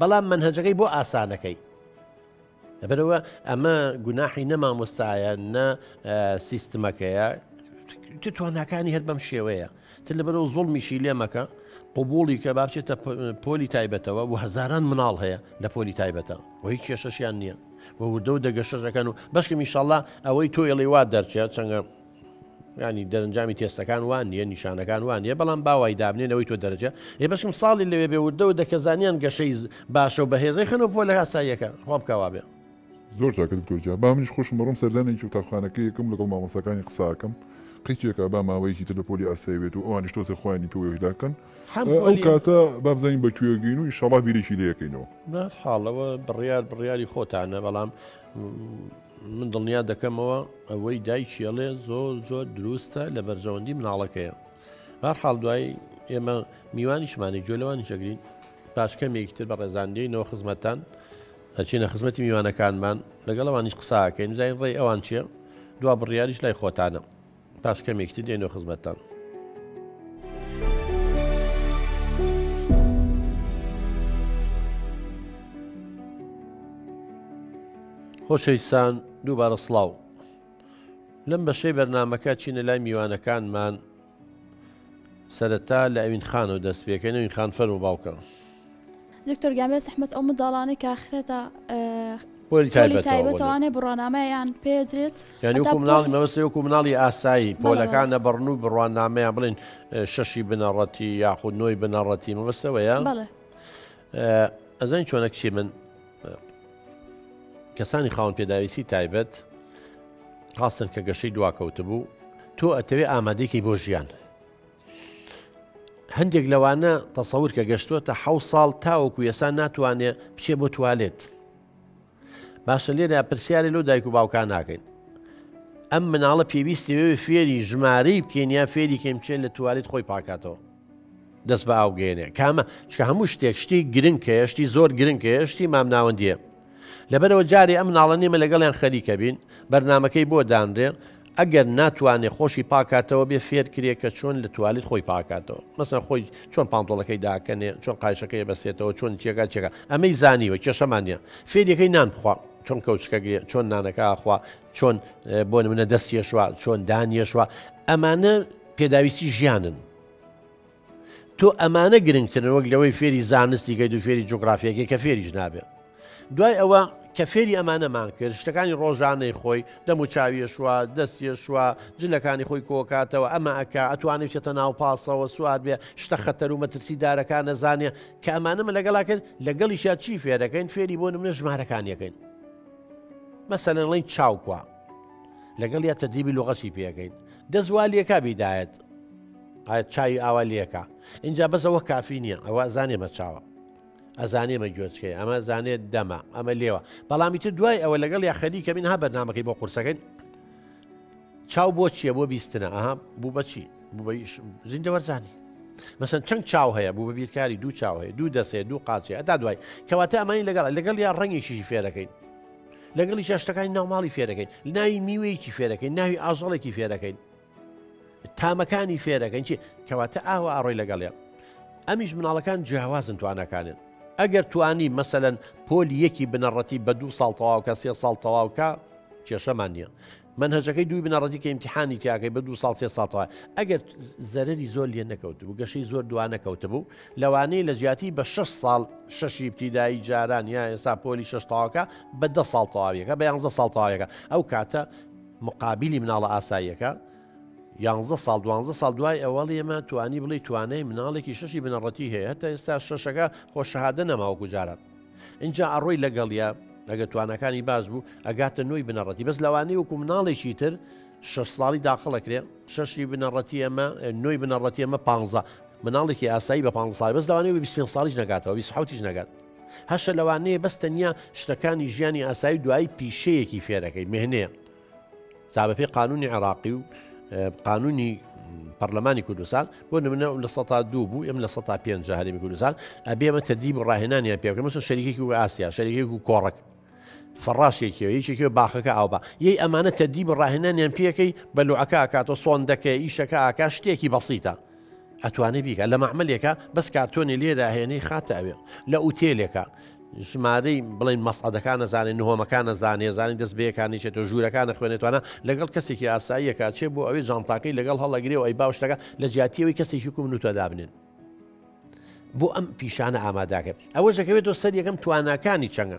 بەڵام مەنهەجەکەی بۆ ئاسانەکەی لەبەرەوە ئەمە گوناحی نە مامۆستایە نە سیستمەکەیە تواناکانی هەر بەم شێوەیە تر لەبەرەوە زۆڵمیشی لێمەکە قوبولی کە بابچێتە پۆلی تایبەتەوە و هەزاران مناڵ هەیە لە پۆلی تایبەتە و هیچ کێشەشیان نییە و وردە و دەگەشەکەن و بەشکە میشاءله ئەوەی تۆ ئێڵی وا دەرچێت چەنگە یانی دەرنجامی تێستەکان وان نیە نیشانەکان وان نیە بەڵام باوای دابنێ نەوەی تۆ دەرەجە ێێ بەشم ساڵی لەوێ بێ وردەوە دەکەزانیان گەشەی باشە و بەهێزەی خەنەوە پۆ لە هاساییەکە خوا بکەوا بێ. زۆر چاکە دکتۆر گیان با منیش خۆشم بڕۆم سەردانێکی قوتابخانەکەی یەکەم لەگەڵ مامۆستاکانی قساکەم قیچێکە با ماوەیەکی تر لە پۆلی ئاسایی بێت و ئەوانیش تۆزێ خۆیانی تۆ وێژدا کەن ئەو کاتە بابزانین بە کوێ گەین و ئیشەڵا بیرێکی لەکەینەوە نات حاڵەوە بڕیار بڕیاری خۆتانە بەڵام من دڵنیا دەکەمەوە ئەوەی دایکیەڵێ زۆر زۆر دروستە لە بەرژەوەندی مناڵەکەیە بار حاڵ دوای ئێمە میوانیشمانی جۆ لەوانی شەگرین پاش کەمێکی تر بە ڕێزاندەینەوە خزمەتان ئەچینە خزمەتی میوانەکانمان لەگەڵەوانیش قساکەین زین ڕێی ئەوان چیە دوا بڕیاریش لای خۆتانە پاش کەمێک تر دێنەوە خزمەتتان. خۆشەویستان دووبارە سڵاو لەم بەشەی بەرنمەکە چینە لای میوانەکانمان سەرەتا لە ئەوین خانەوە دەست پێکەنەوین خان فەرمو باوکە دکتۆر گیان بێ زەحمەت ئەو منداڵانەی کە خرێتە پۆلی تایبەتەوە توانێ بڕوانامەیان پێدرێت یانی وەکو مناڵی مەبەستی وەکو مناڵی ئاسایی پۆلەکان نەبڕن و بڕوانامەیان بڵێن شەشی بنەڕەتی یاخود نۆی بنەڕەتی مەبەستەوەیە بەڵێ ئەزانی چۆنە کچی من کەسانی خاون پێداویستی تایبەت خاستن کە گەشەی دواکەوت بوو تۆ ئەتەوێ ئامادەێکی بۆ ژیان هەندێک لەوانە تەسەور کە گەشتووەتە حە ساڵ تاوەکو یەسا ناتوانێ بچێ بۆ توالێت باشە لێرە پرسیارە لەو دایک و باوکان ناکەین ئەم مناڵە پێویستی فێری ژمارەی بکەینە فێری کەم بچێت لە توالێت خۆی پاکاتەوە دەست بە ئاوگەێنێ کامە چکە هەموو شتێک شتی گرنگ کەشتی زۆر گرنگ کەشتی مامناوەندیە لەبەرئەوە جارێ ئەم مناڵە نێمە لەگەڵیان خەریکە بین بەرنامەکەی بۆ دانرێ ئەگەر ناتوانێ خۆشی پاکاتەوە بێ فێر کرێ کە چۆن لە توالیت خۆی پاکاتەوە مەسەن خۆی چۆن پانتۆڵەکەی داکەنێ چۆن قایشەکەی بەسێتەوە چۆن چێگا چێگا ئەمەی زانیوە کێشەمانە فێریەکەی نان بخوا چۆن کەوچکە گرێ چۆن نانەکە ئاخوا چۆن بۆ منە دەستێشوە چۆن دانیێشوە ئەمانە پێداویستی ژیانن تۆ ئەمانە گرنگترن وەک لەوەی فێری زانستی کەیت و فێری جوگرافیەکەی کە فێریش نابێت دوای ئەوە کە فێری ئەمانەمان کرد شتەکانی ڕۆژانەی خۆی دەم و چاویەشوە دەستیەشوە جلەکانی خۆی کۆکاتەوە ئەمە ئەکا ئەتوانێت چێتە ناو پاسەوە سوار بێ شتە خەتەر و مەترسی دارەکان نەزانێ کە ئەمانەمە لەگەڵا کرد لەگەڵیشا چی فێرەکەین فێری بۆ منە ژمارەکانیەکەین مەسەنەڵین چاوکوە لەگەڵیا تەدریبی لوغەتی پێەکەین دەست وا لێکا بیدایەت ئاەت چاوی ئاوا لێکە اینجا بەس ئەوە کافی نییە ئەوە زانێ بە چاوە ئەزانێ مە گوێچکەی ئەمە زانێت دەمە ئەمە لێوە بەڵامی تر دوای ئەوە لەگەڵ یا خەریکە من ها بەرنمەکەی بۆ قورسەکەین چاو بۆ چییە بۆ بیستنە ئەها بوو بەچی زیندە وەرزانی مەسن چەند چاو هەیە بوو بە بیرکاری دوو چاو هەیە دوو دەسێ دوو قاچێ ئەتا دوای کەواتە ئەمانی لەگەڵ لەگەڵ یا ڕەنگێکیشی فێرەکەین لەگەڵیشا شتەکانی ناوماڵی فێرەکەین ناوی میوەیەکی فێرەکەین ناوی ئازەڵێکی فێرەکەین تامەکانی فێرەکەین چی کەواتە ئاوە ئاڕۆی لەگەڵێ ئەمیش مناڵەکان جیاوازن توانەکانن ئەگەر توانی مەسەەن پۆلی یەکی بنەڕەتی بە دوو ساڵ تەواوکە سێ ساڵ تەواوکە کێشەمان نییە مەنهەجەکەی دووی بنەڕەتی کە ئیمتیحانی تیاکەی بە دوو ساڵ سێ ساڵ تەواوە ئەگەر زەرەری زۆر لێ نەکەوتبوو گەشەی زۆر دوا نەکەوتبوو لەوانەیە لە جیاتی بە شەش ساڵ شەشی ابتیدایی جاران یا ئێستا پۆلی شەش تاوەکە بە دە ساڵ تەواویەکە بە یانزە ساڵ تاوەکە ئەو کاتە مقابلی مناڵە ئاساییەکە یانزە ساڵ دوانزە ساڵ دوای ئەوەڵ ئێمە توانی بڵی توانای مناڵێکی شەشی بنەڕەتی هەیە هەتا ئێستا شەشەکە خۆ شەهادە نەماوەکو جاران ئینجا ئەڕۆی لەگەڵیا ئەگە توانەکانی باز بوو ئەگاتە نوۆی بنەڕەتی بەس لەوانەیە وەکو مناڵێکی تر شش ساڵی داخڵەکرێ شەشی بنەڕەتی ئەمە نوۆی بنەڕەتی ئەمە پ مناڵێکی ئاسایی بە پ ساڵ بەس لەوانەیە 25 ساڵیش نگاتەوە 26 نگات هەشە لەوانەیە بەس تەنیا شتەکانی ژیانی ئاسایی دوایی پیشەیەکی فێرەکەی مهنەیە جا بەپێی قانونی عێراقی و قانونی پەرلەمانی کوردستان بۆ نمونە لە سە دوو بوو ئەم لە سە پێ هەرمی کوردستان ئەبێمە تەدیب و ڕاهێنانیان پێ بکەم مەسن شەریکی و ئاسیا شەریک و کۆڕک فڕاشێکی یەکێکی باخەکە ئاوبا یەی ئەمانە تەدیب و ڕاهێنانیان پێەکەی بەلوعەکە ئاکاتۆ سۆن دەکەی ئیشەکە ئاکا شتێکی بەسیتە ئەتوانێ بیکە لە مەعملێکە بەس کارتۆنی لێدا هێنی خاتە ئەوێ لە ئوتێلێکە ژمارەی بڵین مەسعدەکان نەزانێت نهۆمەکان نەزانێ زانانی دەست بەیەکانیشێت و ژوورەکان نەخوێنێتوانە لەگەڵ کەسێکی ئاساییەکە چێ بۆ ئەوەی جانتاکەی لەگەڵ هەڵەگرێ و ئەی باوشتەکە لە جیاتیەوەی کەسێکی کوم نوتە دابنێن بۆ ئەم پیشانە ئاماداکە ئەوە ژەکەوێتەوە سەر یەکەم تواناکانی چەنگە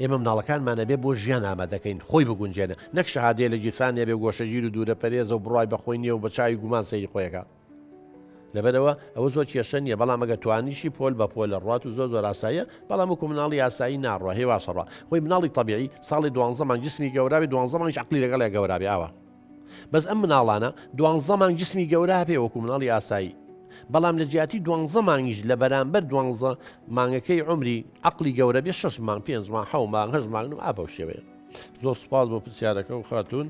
ئێمە مناڵەکانمان ئەبێ بۆ ژیان ئامادەکەین خۆی بگونجێنە نەک شەهادەیە لە گیرفان نەبێ و گۆشەگیر و دوورە پەرێزە و بڕوای بە خۆی نییە و بە چاوی گومان سەیری خۆی ئەکا لەبەرەوە ئەوە زۆر کێشە نییە بەڵام ئەگە توانیشی پۆل بە پۆلە ڕوات و زۆر زۆر ئاساییە بەڵام وەکو مناڵی ئاسایی ناڕوا هێواشەڕا خۆی مناڵی تەبیعی ساڵێ دوانزە مانگ جسمی گەورابێ دوانزە مانگیش عەقڵی لەگەڵیا گەورابێ ئاوا بەس ئەم مناڵانە دوانزە مانگ جسمی گەورە هەپێ وەکو مناڵی ئاسایی بەڵام لە جیاتی دوانزە مانگیش لە بەرامبەر دوانزە مانگەکەی عومری عەقڵی گەورە بێ شەش مانگ پێنج مانگ حەو مانگ هەشت مانگ نم ئا بەو شێوەیە زۆر سپاس بۆ پرسیارەکە و خاتون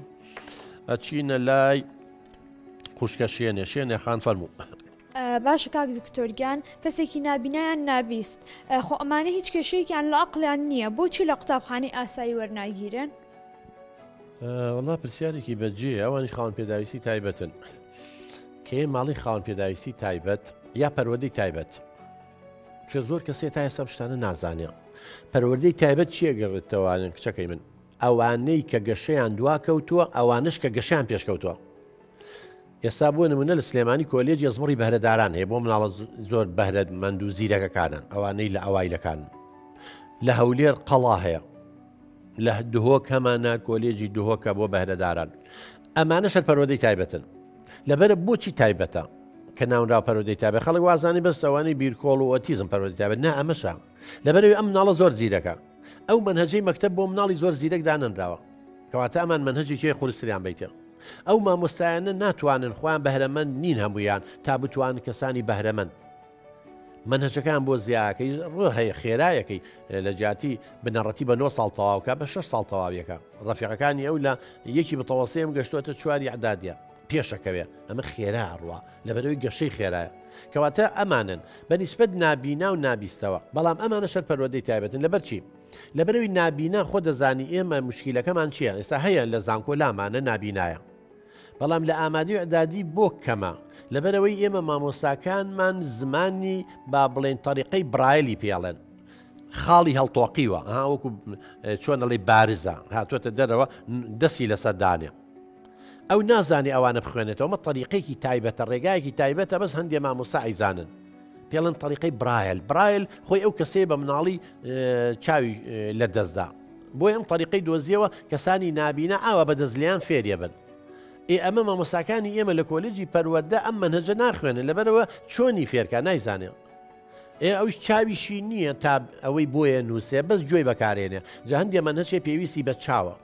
ئەچینە لای خوشکە شێنێ شێنێ خان فەرموو. باشە کاک دکتۆرگیان کەسێکی نابینایان نابیست خۆ ئەمانە هیچ کێشەیەکیان لە ئەقلیان نییە بۆچی لە قوتابخانەی ئاسایی وەرناگیرن؟ وەڵا پرسیارێکی بەجێ ئەوانیش خاوەن پێداویستی تایبەتن کێ ماڵی خاوەن پێداویستی تایبەت یا پەروەدەی تایبەت چە زۆر کەسێ تا ئێستا شتانە نازانێ پەروەدەی تایبەت چیە گەڕێتەوانن کچەکەی من ئەوانەی کە گەشەیان دوا کەوتووە ئەوانش کە گەشیان پێشکەوتووە ئێستا بۆ نمونە لە سلێمانی کۆلێج ئەزمڕی بەرەداران هەیە بۆ مناڵە زۆر بەرەت مەند و زیرەکەکانە ئەوانەی لە ئەوایلەکان لە هەولێر قەڵا هەیە لە دهۆک هەمانە کۆلێجی دهۆکە بۆ بەهرەداران ئەمانە سەر پەرۆدەی تایبەتن لەبەر بۆچی تایبەتە کە ناونرا پەرۆدەی تابێت خەڵک وازانی بەس ئەوانی بیرکۆڵ و ئۆتیزم پەرۆدەی تابێت نا ئەمەشە لەبەرەوەی ئەم ناڵە زۆر زیرەکە ئەو منهجەی مەکتب بۆ مناڵی زۆر زیرەک دانەنراوە کەواتە ئەمان منهجی چێ خورسریان بیتە ئەو مامۆستایانە ناتوانن خۆیان بەهرەمەند نین هەمویان تا بتوان کەسانی بەهرەمەند مەنهەجەکەیان بۆ زیاکەی ڕۆ هەیە خێرایەکەی لە جیاتی بنەڕەتی بە نۆ ساڵ تەواوکە بە شش ساڵ تەواویەکە ڕەفیقەکانی ئەو لە یەکی بتەوەسەیەم گەشتوەتە چواری عدادە پێشەکەوێ ئەمە خێرا ڕوە لەبەرەوەی گەشەی خێرایە کەواتە ئەمانن بەنیسبەت نابینا و نابیستەوە بەڵام ئەمانە شەر پەروەدەی تایبەتن لەبەرچی لەبەرەوەی نابینا خۆ دەزانی ئێمە مشکیلەکەمان چییە ئێستا هەیە لە زانکۆ لامانە نابینایە بەڵام لە ئامادەی و ئیعدادی بۆ کەمە، لەبەرئەوەی ئێمە مامۆستاکانمان زمانی با بڵێین تەریقەی برایلی پێ ئەڵێن، خاڵی هەڵتۆقیوە ها وەکو چۆن ئەڵێی بارزە هاتووەتە دەرەوە دەستی لەسەر دانێ. ئەو نازانێ ئەوانە بخوێنێتەوە، ئەمە تەریقەیەکی تایبەتە، ڕێگایەکی تایبەتە بەس هەندێ مامۆستا ئەیزانن. پێڵێن تەریقەی برایل برایل خۆی ئەو کەسەیە بە مناڵی چاوی لە دەستدا بۆی ئەم تەریقەی دۆزیەوە کەسانی نابینە ئاوا بە دەستلیان فێریە بن ئێ ئەمە مامۆساکانی ئێمە لە کۆلێجی پەروەەردە ئەم منهجە ناخوێنن لەبەرەوە چۆنی فێرکە نایزانێ ئێ ئەوش چاویشی نییە تا ئەوەی بۆیە نووسێ بەس گوێی بەکارێنێ جا هەندێ منهچێ پێویستی بە چاوە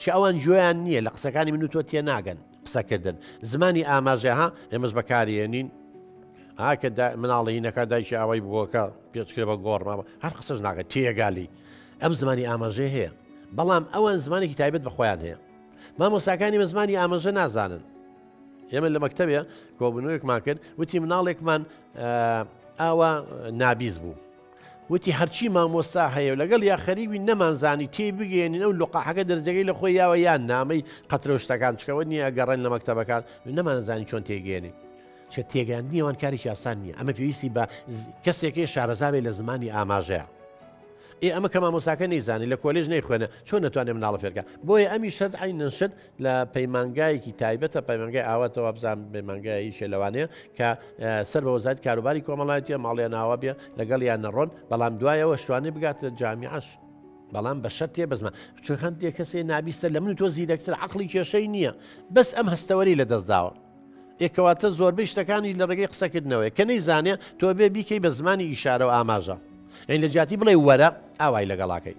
چ ئەوان گوێیان نییە لە قسەکانی من و تۆ تێناگەن قسەکردن زمانی ئاماژە ها ئێمەش بەکارێنین ئاکە مناڵی نەکە دایکی ئاوای بووەکە پێچکرێ بە گۆڕناوە هەر قسەش ناگە تێگالی ئەم زمانی ئاماژێ هەیە بەڵام ئەوان زمانێکی تایبەت بەخۆیان هەیە مامۆساکانی بە زمانی ئاماژە نازانن ئێمە لە مەکتتەبێ کۆبنەوەیەکمان کرد وتی مناڵێکمان ئاوا نابیز بوو وتی هەرچی مامۆستا هەیە و لەگەڵ یا خەریک بین نەمانزانی تێی بگەیەنین ئەو لقاحەکە دەرجەکەی لە خۆی یاوە یان نامەی قەترە و شتەکان چکەوە نییە ئەگەڕێن لە مەکتەبەکان نەمانزانی چۆن تێگەێنین چە تێگەاندنی ئەوان کاری یاسان نییە ئەمە پێویستی بە کەسێکی شارەزاوێ لە زمانی ئاماژەیە ئێ ئەمە کە مامۆساکە نەیزانانی لە کۆلێژ نەیخوێنە چۆن نەتوانێت مناڵە فێرکە بۆیە ئەمی شت عینەن شت لە پەیمانگایەکی تایبەتە پەیمانگای ئاواتە وابزان پەیمانگایشە لەوانەیە کە سەر بە وەزارەت کاروباری کۆمەڵایەتە ماڵیان ناوە بێ لەگەڵ یان نەڕۆن بەڵام دوایەوە شتوانێ بگاتە جامیعش بەڵام بە شەر تێ بزمە چون هەندێک کەسێ نابیستە لە من تۆ زیرەکتر عقلی کێشەی نییە بەس ئەم هەستەوەری لە دەستداوە یەکەواتە زۆربەی شتەکانی لە ڕێگەی قسەکردنەوەی کە نەیزانێ تۆ بێ بیکەی بە زمانی ئیشارە و ئاماژە ئەین لە جیاتی بڵێ وەرە ئاوای لەگەڵاکەی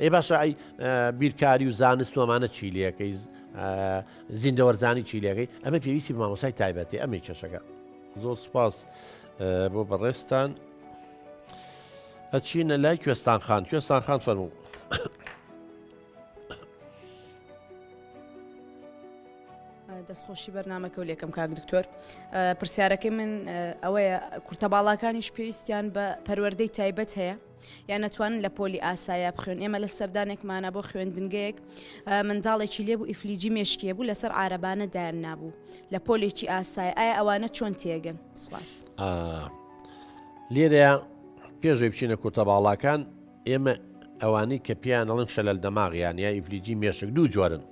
ئەی باشە ئەی بیرکاری و زانست و ئەمانە چی لەکەی زیندەوەرزانی چی لەکەی ئەمە پێویستی مامۆسای تایبەتی ئەمەی کێشەکە زۆر سپاس بۆ بەڕێستان ئەچینە لای کوێستان خان کوێستان خان فەرموو دەستخۆشی بەرنمەکە و لێکم کاک دکتۆر پرسیارەکەی من ئەوەیە کورتە باڵاکانیش پێویستیان بە پەروەەردەی تایبەت هەیە یان نەتوانن لە پۆلی ئاسایە بخوێن ئێمە لە سەردانێکمانە بۆ خوێندنگەیەک منداڵێکی لێبوو ئیفلیجی مێشکیە بوو لەسەر عربانە دایان نابوو لە پۆلێکی ئاسای ئایا ئەوانە چۆن تێگەن سپاس لێرە پێشوی بچینە کورتە باڵاکان ئێمە ئەوانەی کە پێیان ئەڵن شەلەل دەماغیان یا ئیفلیجی مێشک دوو جۆرن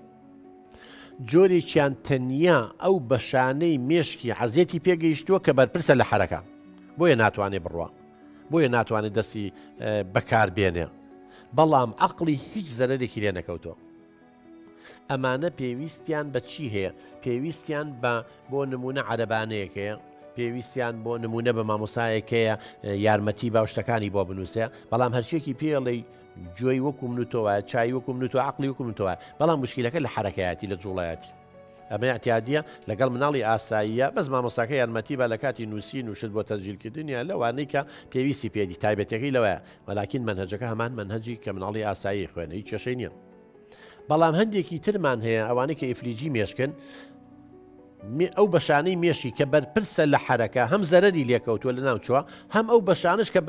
جۆرێکیان تەنیا ئەو بەشانەی مێشکی عزیەتی پێگەیشتووە کە بەرپرسە لە حرەکە بۆیە ناتوانێ بڕوە بۆیە ناتوانێت دەستی بەکار بێنێ بەڵام عقلی هیچ زەرێکی لێ نەکەوتۆ ئەمانە پێویستیان بە چی هەیە پێویستیان بە بۆ نمونە عەربانەیەکەیە پێویستیان بۆ نمونە بە مامۆسایەکەیە یارمەتی باوشتەکانی بۆ بنووسێ بەڵام هەرچێکی پێڵی جۆی وەکو من و تۆوە چای وەکو من و تۆ عقلی وکو من تۆوە بەڵام مشکلەکە لە حرەکەیەتی لە جوڵایەتی ئەمە ئیعتیادیە لەگەڵ مناڵی ئاساییە بەس مامۆستاکە یارمەتی با لەکاتی نوسین و شت بۆ تەسجیل کردنیان لەوانەی کە پێویستی پێدی تایبەتەکەی لەوەیە وەلاکین مەنهەجەکە هەمان مەنهەجی کە مناڵی ئاسایی خوێنە هیچ کێشەی نیە بەڵام هەندێکی ترمان هەیە ئەوانەی کە ئیفلیجی مێشکن ئەو بەشانەی مێشی کە بەرپرسە لە حرەکە هەم زەرری لێکەوتووە لە ناوچووە هەم ئەو بەشانش کە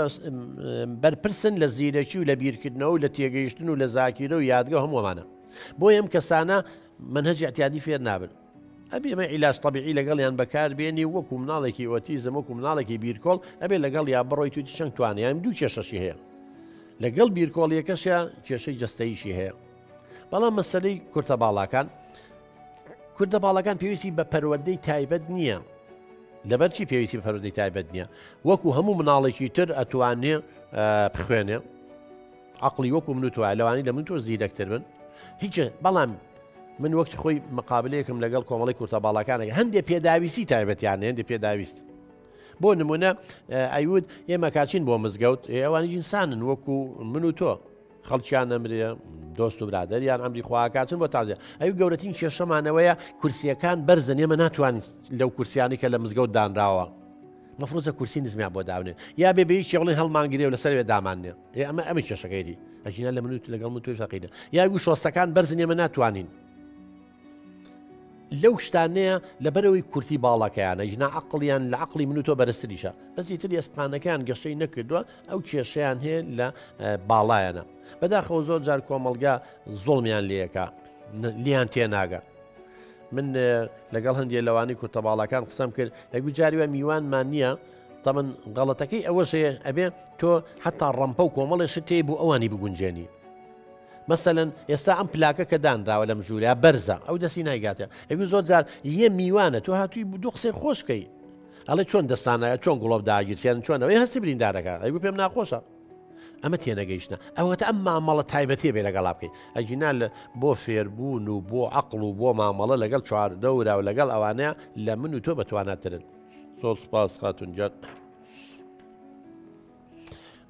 بەرپرسن لە زیرەکی و لە بیرکردنەوە و لە تێگەیشتن و لە زاکیرە و یادگە هەمووانە بۆ ئەم کەسانە مەنهەجی ئیعتیادی فێر نابن. ئەبێ مە عیلاج تەبیعی لەگەڵیان بەکار بێنی و وەکو مناڵێکی ئۆتیزم وەکو مناڵێکی بیرکۆڵ ئەبێ لەگەڵ یا بڕۆی توی چەند توانیان دوو کێشەشی هەیە لەگەڵ بیرکۆڵیەکەشە کێشەی جستەیشی هەیە بەڵام مەسلەی کورتە باڵاکان کوردە باڵەکان پێویستی بە پەروەدەی تایبەت نییە لەبەرچی پێویستی بە پەرودەی تایبەت نییە وەکو هەموو مناڵێکی تر ئەتوانێ بخوێنێ عەقڵی وەکو من و تۆیە لەوانەی لە من و تۆ زیرەک تر بن هیچە بەڵام من وەک خۆی مقابلەیەکم لەگەڵ کۆمەڵی کورتە باڵاکانێک هەندێک پێداویستی تایبەتیان هەندێک پێداویست بۆ نمونە ئەیود ئێمە کاچین بۆ مزگەوت ئەوانی جنسانن وەکو من و تۆ خەڵکیان ئەمرێ دۆست و برادریان ئەمری خواکاتن بۆ تازە ئەو گەورەترین کێشەمانەوەیە کورسیەکان بەرزن ئێمە ناتوانین لەو کورسیانی کە لە مزگەوت دانراوە مەفرۆزە کورسی نزمیان بۆ داونێ یا بێ بەیەکی بڵێن هەڵمانگرێ و لەسەروێ دامانێ ئێ ئەمە ئەمە کێشەکەیری ئەژینا لە منوت لەگەڵ من توی فەقیدە یاگو شۆستەکان بەرزن ئێمە ناتوانین لەو شتانەیە لە بەرەوەی کورتی باڵەکەیانە ژنا عقلیان لە عقلی من و تۆ بەرزتریشە بەسی تری ئەسپانەکان گەشەی نەکردووە ئەو کێشیان هەیە لە باڵایەنە بەداخەوە زۆر جار کۆمەلگا زۆڵمیان لەکە لیان تێناگە من لەگەڵ هەندێک لەوانی کورتە باڵەکان قسەم کرد هەگو جاری وە میوانمان نییە تەمەن غەڵەتەکەی ئەوەش هەیە ئەبێ تۆ حەتا ڕەمپە و کۆمەڵێ شت هەیە بۆ ئەوانی بگونجێنی مەسەلەن ئێستا ئەم پلاکە کە دانراوە لەم ژوورە بەرزە ئەو دەسی نایگاتە ئەوی زۆر جار یە میوانە تۆ هاتووی دوو قسەی خۆشکەی ئەڵێ چۆن دەستانە چۆن گوڵۆب داگیرسێن چۆنەوەی هەستی بریندارەکە ئەیگو پێم ناخۆشە ئەمە تێنەگەیشتە ئەوەتە ئەم مامەڵە تایبەتێ بێ لەگەڵا بکەیت ئەجینا لە بۆ فێربوون و بۆ عقل و بۆ مامەڵە لەگەڵ چواردەورا و لەگەڵ ئەوانەیە لە من و تۆ بەتواناترن زۆر سپاس خاتون جات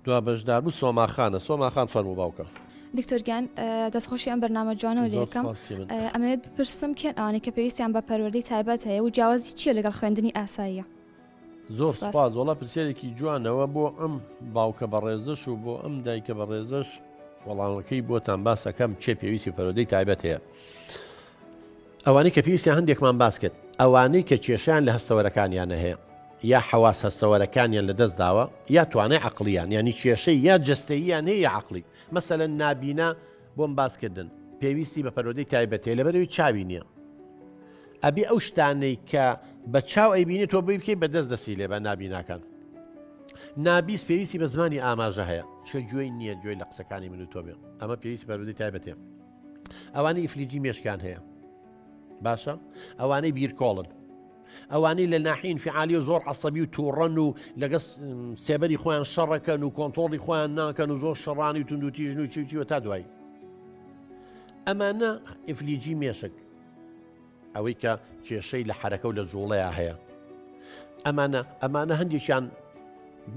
دوا بەشدار بوو سۆماخانە سۆماخان فەرمو باوکە دکتۆرگیان دەستخۆشی ئەم بەرنامە جوانە و لەکەم ئەمەوێت بپرسم کێن ئەوانەی کە پێویستیان بە پەروەردەی تایبەت هەیە و جیاوازی چیە لەگەڵ خوێندنی ئاساییە زۆر سپاس وڵا پرسیارێکی جوانەوە بۆ ئەم باوکە بە ڕێزش و بۆ ئەم دایکە بە ڕێزش وەڵامەکەی بۆتان باسەکەم چێ پێویستی پەرۆدەی تایبەت هەیە. ئەوانەی کە پێویستە هەندێکمان باس کرد، ئەوانەی کە کێشەیان لە هەستەوەرەکانیانە هەیە، یا حەواس هەستەوەرەکانیان لە دەست داوە، یا توانای عەقڵییان، یانی کێشەی یا جەستەییان هەیە یا عەقڵی، مەسەلەن نابینا بۆم باس کردن پێویستی بە پەروەردەی تایبەت هەیە لەبەرئەوەی چاوی نییە ئەبێ ئەو شتانەی کە بە چاو ئەیبینێ تۆ بۆی بکەی بە دەست دەستی لێ بە نابیناکان نابیست پێویستی بە زمانی ئاماژە هەیە چکە گوێی نییە گوێی لە قسەکانی من و تۆ بێ ئەمە پێویستی پەروەردەی تایبەت هەیە ئەوانەی ئیفلیجی مێشکان هەیە باشە ئەوانەی بیرکۆڵن ئەوانەی لە ناحین فعالی و زۆر عسەبی و تووڕەن و لەگە سێبەری خۆیان شەڕەکەن و کۆنتۆڵی خۆیان ناکەن و زۆر شەڕانی و توندوتیژن و چوچیوە تا دوایی ئەمانە ئیفلیجی مێشک ئەوەی کە کێشەی لە حرەکە و لە جوڵەیە هەیە ئەمانە ئەمانە هەندێکیان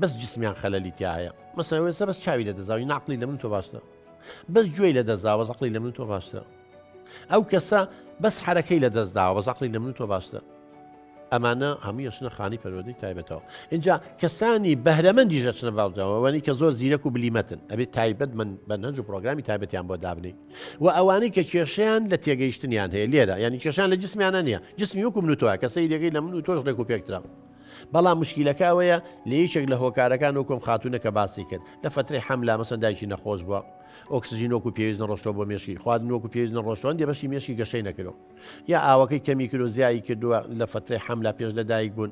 بەس جسمیان خەلەلی تایە مەسەوێسە بەس چاوی لە دەزاوی ناقلی لە من تۆ باشە بەس گوێی لە دەست داوە زەقلی لە من تۆ باشترە ئەو کەسە بەس حرەکەی لە دەست داوە زەقلی لە من تۆ باشترە ئەمانە هەموو یەچنە خانی پەروەدەی تایبەتەوە اینجا کەسانی بەهرەمەندی ژەچنە باڵداوەوانی کە زۆر زیرەک و بلیمەتن ئەبێت تایبەت من بە نەنج و پرۆگرامی تایبەتیان بۆ دابنی و ئەوانەی کە کێشیان لە تێگەیشتنیان هەیە لێرە ینی کێشان لە جسمیانە نیە جسمی وەکو من تۆە کە سەیرەکەی لە من و تۆش لێک و پێکترا بەڵام مشکیلەکە ئەوەیە لە یەکێک لە هۆکارەکان و کۆم خاتونە کە باسی کرد لە فترەی حەملا مەسەن دایکی نەخۆش بووە ئۆکسسیژین وەکو پێویست نەڕۆشتەوە بۆ مێشکی خواردن وەکو پێویست نەڕۆشتوان دێ بەشی مێشکی گەشەی نەکرۆ یا ئاوەکەی کەمی کرۆ زیایی کردووە لە فترەی حەملا پێش لەدایک بوون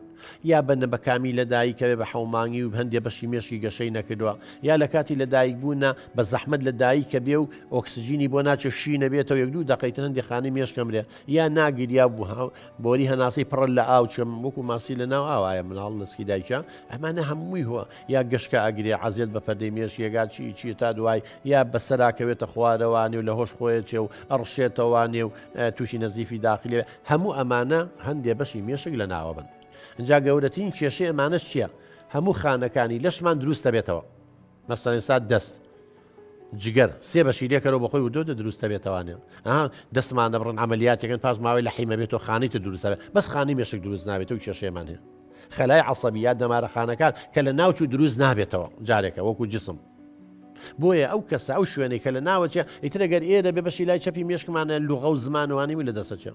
یا بەنە بەکامی لەدایکەوێ بە حەومانگی و هەندێ بەشی مێشکی گەشەی نەکردووە یا لە کاتی لەدایک بوونە بە زەحمت لە دایکە بێ و ئۆکسسیژینی بۆ ناچێ شی نەبێتەوە یەک دوو دەقیتر هەندی خانی مێشکەمرێ یا ناگیریا بوو بۆری هەناسەی پڕە لە ئاو چەم وەکو ماسی لە ناو ئاوایە مناڵ لەسکی دایکە ئەمانە هەمووی هو یا گەشکە ئەگرێ عزیێت بە پەردەی مێش یێگا چی چیە تا دوای یا بەسەراکەوێتە خوارەوانێ و لە هۆش خۆیە چێ و ئەڕشێتەوانێ و تووشی نەزیفی داخلیێ هەموو ئەمانە هەندێ بەشی مێشک لە ناوە بن جا گەورەترین کێشەی ئەمانەش چیە هەموو خانەکانی لەشمان دروستە بێتەوە. نەسەنسات دەست جگەر سێ بەشی لێکەرەوە بەخۆی و دۆدە دروستە بێتەوانێ ئەها دەستمان دەبڕن عملیاتەکەن پاش ماوەی لە حیمە بێتەوە خانەی تر دروستە بەس خانەی مێشک دروست نابێتەوە کێشەیەمان هەیە خەلای عصبی یا دەمارە خانەکان کە لە ناوچوو دروست نابێتەوە جارێکە وەکو جسم بۆیە ئەو کەسە ئەو شوێنەی کە لە ناوەچێ ئیترەگەر ئێرە بێ بەشی لای چەپی مێشکمانە لوغە و زمانوانی و لە دەسەچێ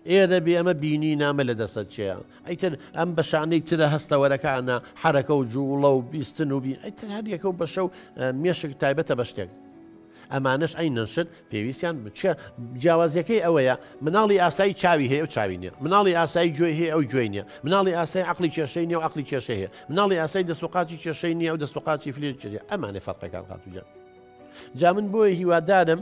ئێ دەبی ئەمە بینی نامە لە دەسەت چێە ئەیتر ئەم بەشانەی ترە هەستەوەرەکانە حەرەکە و جووڵە و بیستن و بین ئەیتر هەر یەکە و بەشە و مێشک تایبەتە بە شتێک ئەمانەش ئەین نەشت پێویستیان بچە جیاوازیەکەی ئەوەیە مناڵی ئاسایی چاوی هەیە و چاوی نیە مناڵی ئاسایی گوێ هەیە ئەو گوێی نیە مناڵی ئاسای عقلی کێشەی نیە و عقلی کێشەی هەیە مناڵی ئاسای دەسوقاتی کێشەی نیە و دەسوقاتی فلێ کێ ئەمانێ فەرقەکان خاتوجان جا من بۆیە هیوادارم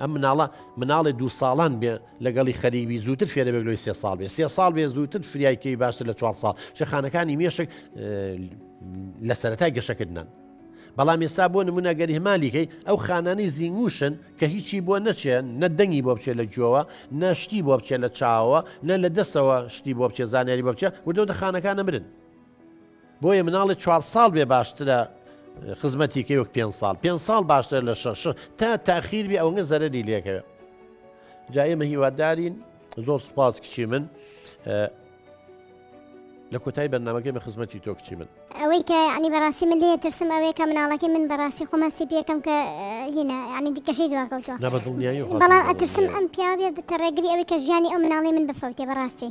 ئەم مناڵە مناڵێ دوو ساڵان بێ لەگەڵی خەریک بی زووتر فێرەبێک لۆی سێ ساڵ بێ سێ ساڵ بێ زووتر فریای کێوی باشتر لە چوار ساڵ شەخانەکانی مێشک لە سەرەتای گەشەکردنان بەڵام ئێستا بۆ نمونە گەری هەمالیکەی ئەو خانانی زینگوشن کە هیچی بۆ نەچێن نە دەنگی بۆ بچێت لە گوێوە نەشتی بۆ بچێت لە چاوە نە لە دەستەوە شتی بۆ بچێ زانیاری بۆ بچێ وردەوتە خانەکان نەمرن بۆیە مناڵێ چوار ساڵ بێ باشترە خزمەتی کە وەک پێ ساڵ پێ ساڵ باشتر لە شەش تا تاخیر بێ ئەوەنگە زەرری لێکەوە جا ئێمە هیوادارین زۆر سپاس کچی من لە کۆتای بەرنمەکەی بە خزمەتی تۆ کچی من ئەوەی کە ینی بەڕاستی من لێ ترسم ئەوەیە کە مناڵەکەی من بەڕاستی خۆمە سیپیەکەم کە هینە ینی دیکەشەی دواکەوتوە بەڵام ئەترسم ئەم پیاوێ بتەڕێگری ئەوەی کە ژیانی ئەو مناڵی من بفەوتێ بەڕاستی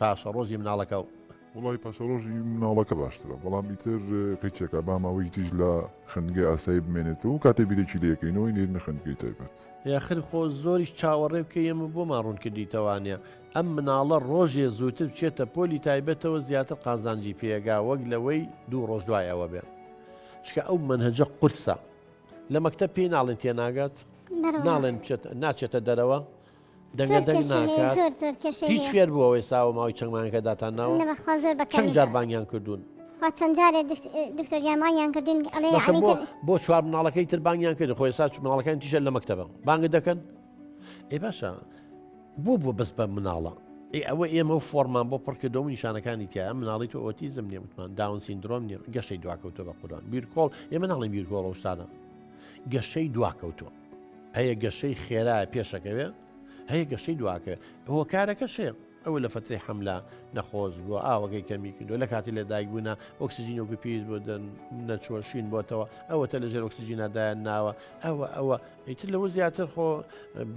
پاشەڕۆژی مناڵەکە و. وەڵاهی پاشەڕۆژی مناڵەکە باشترە بەڵام ئیتر کەی چێکا با ماوەیەکی تریش لە خوێندنگەی ئاسایی بمێنێتەوە و کاتێ بیرێکی لێ کەینەوەی نێرینە خوێندگەی تایبەت. یاخر خۆ زۆریش چاوەڕێ بکەی ئێمە بۆمان ڕوون کردیتە وانیە ئەم مناڵە ڕۆژێ زووتر بچێتە پۆلی تایبەتەوە زیاتر قازانجی پێگا وەک لەوەی دوو ڕۆژ دوای ئەوە بێ چکە ئەو مەنهەجە قورسە لە مەکتەب پێی ناڵێن تێناگات ناڵێن ناچێتە دەرەوە دەنگە دەنگ ناکات هیچ فێر بوو ئەوەی ساوە ماوەی چەند مانگەکە داتان ناوە چەند جار بانگیان کردوون چەند جارێ دکتۆریامانیان کردین ئەڵێ بۆ چوار مناڵەکەی تر بانگیان کرد خۆی ساچ مناڵەکان تیژە لە مەکتتەبە بانگ دەکەن ئێ باشە بۆ بۆ بەس بە مناڵە ئێ ئەوە ئێمە و فۆرمان بۆ پڕکردەوە نیشانەکانی تیا مناڵی تۆ ئۆتیزم نیە وتمان داون سیندرۆم نیە گەشەی دواکەوتە بە قوران بیرکۆڵ ئێمە ناڵێن بیرکۆڵە شتانە گەشەی دواکەوتووە هەیە گەشەی خێرایە پێشەکەوێ هەیە گەشەی دواکە هۆکارەکە شێ ئەوە لە فتری حملە نەخۆش بووە ئاوەکەی کەمی کردو لە کاتی لە دایک بوونا ئۆکسسیجین وەکو پێویست بۆ دەن نەچۆشین بۆتەوە ئەوەتە لە ژێر ئۆکسسیجینادایان ناوە ئەوە ئەوە ئیتر لەوە زیاتر خۆ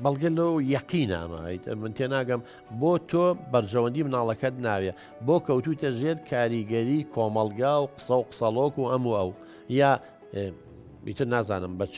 بەڵگە لەو یەقی نامە ئیتر من تێناگەم بۆ تۆ بەرژەوەندی مناڵەکەت ناوێ بۆ کەوتوتە ژێر کاریگەری کۆمەلگا و قسە و قسەڵۆک و ئەم و ئەو یا ئیتر نازانم بە چ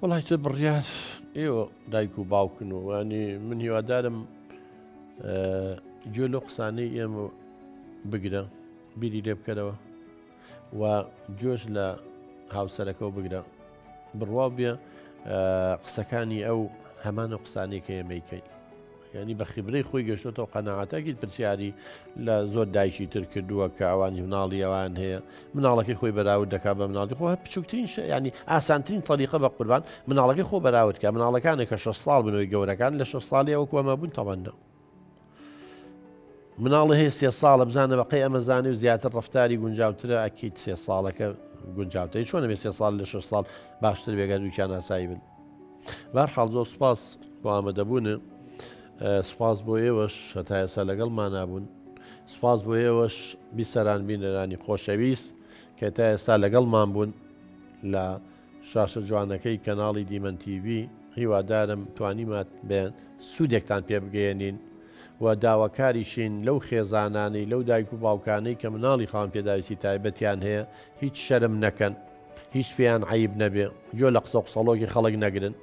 وڵی تر بڕیان ئێوە دایک و باوکن و وانی من هیوادارم گوێ لە قسانەی ئێمە بگرە بیری لێ بکەرەوە و گوێش لە هاوسەرەکە و بگرە بڕوا بێ قسەکانی ئەو هەمان و قسانێکە ئێمەیکەین یانی بە خیبرەی خۆی گەشتۆتەوە قەناعەتە ئەکید پرسیاری لە زۆر دایکی تر کردووە کە ئەوانی مناڵی ئەوان هەیە مناڵەکەی خۆی بەراود دەکا بە مناڵی خۆ هە بچووکترین شە ینی ئاسانترین تەریقە بە قوربان مناڵەکەی خۆ بەراود کە مناڵەکانە کە شە ساڵ بنەوەی گەورەکان لە شە ساڵی ئەوە کوەمە بوون تەواننا مناڵی هەیە سێ ساڵە بزانە بەقی ئەمەزانی و زیاتر ڕفتاری گونجاوترە ئەکییت سێ ساڵەکە گونجاوتەی چۆنە بێ سێ ساڵ لە شە ساڵ باشتر بێگەر دووچیان ئاسایی بن بەر حاڵ زۆر سپاس بۆ ئامادەبوونە سپاس بۆ ئێوەش هەتا ئێستا لەگەڵ مانابوون سپاس بۆ ئێوەش بیسەران بینەرانی خۆشەویست کە تا ئێستا لەگەڵمان بوون لە شاشە جوانەکەی کەناڵی دیمەن TV هیوادارم توانیمات بێن سوودێکتان پێ بگەێنین و داواکاریشین لەو خێزانانەی لەو دایک و باوکانەی کە مناڵی خاوەن پێداویستی تایبەتیان هەیە هیچ شەرم نەکەن هیچ پێیان عەیب نەبێ گۆێ لە قسەو قسەڵۆکی خەڵک نەگرن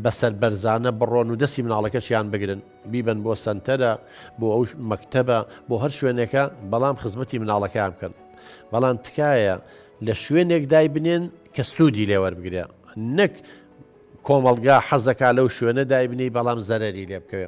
بە سەربەرزانە بڕۆن و دەستی مناڵەکەشیان بگرن بیبەن بۆ سەنتەرە بۆ ئەو مەکتەبە بۆ هەر شوێنێکە بەڵام خزمەتی مناڵەکەیان بکەن بەڵام تکایە لە شوێنێک دای بنێن کە سوودی لێوەربگرێ نەک کۆمەڵگا حەزەکە لەو شوێنە دای بنی بەڵام زەرری لێ بکەوێ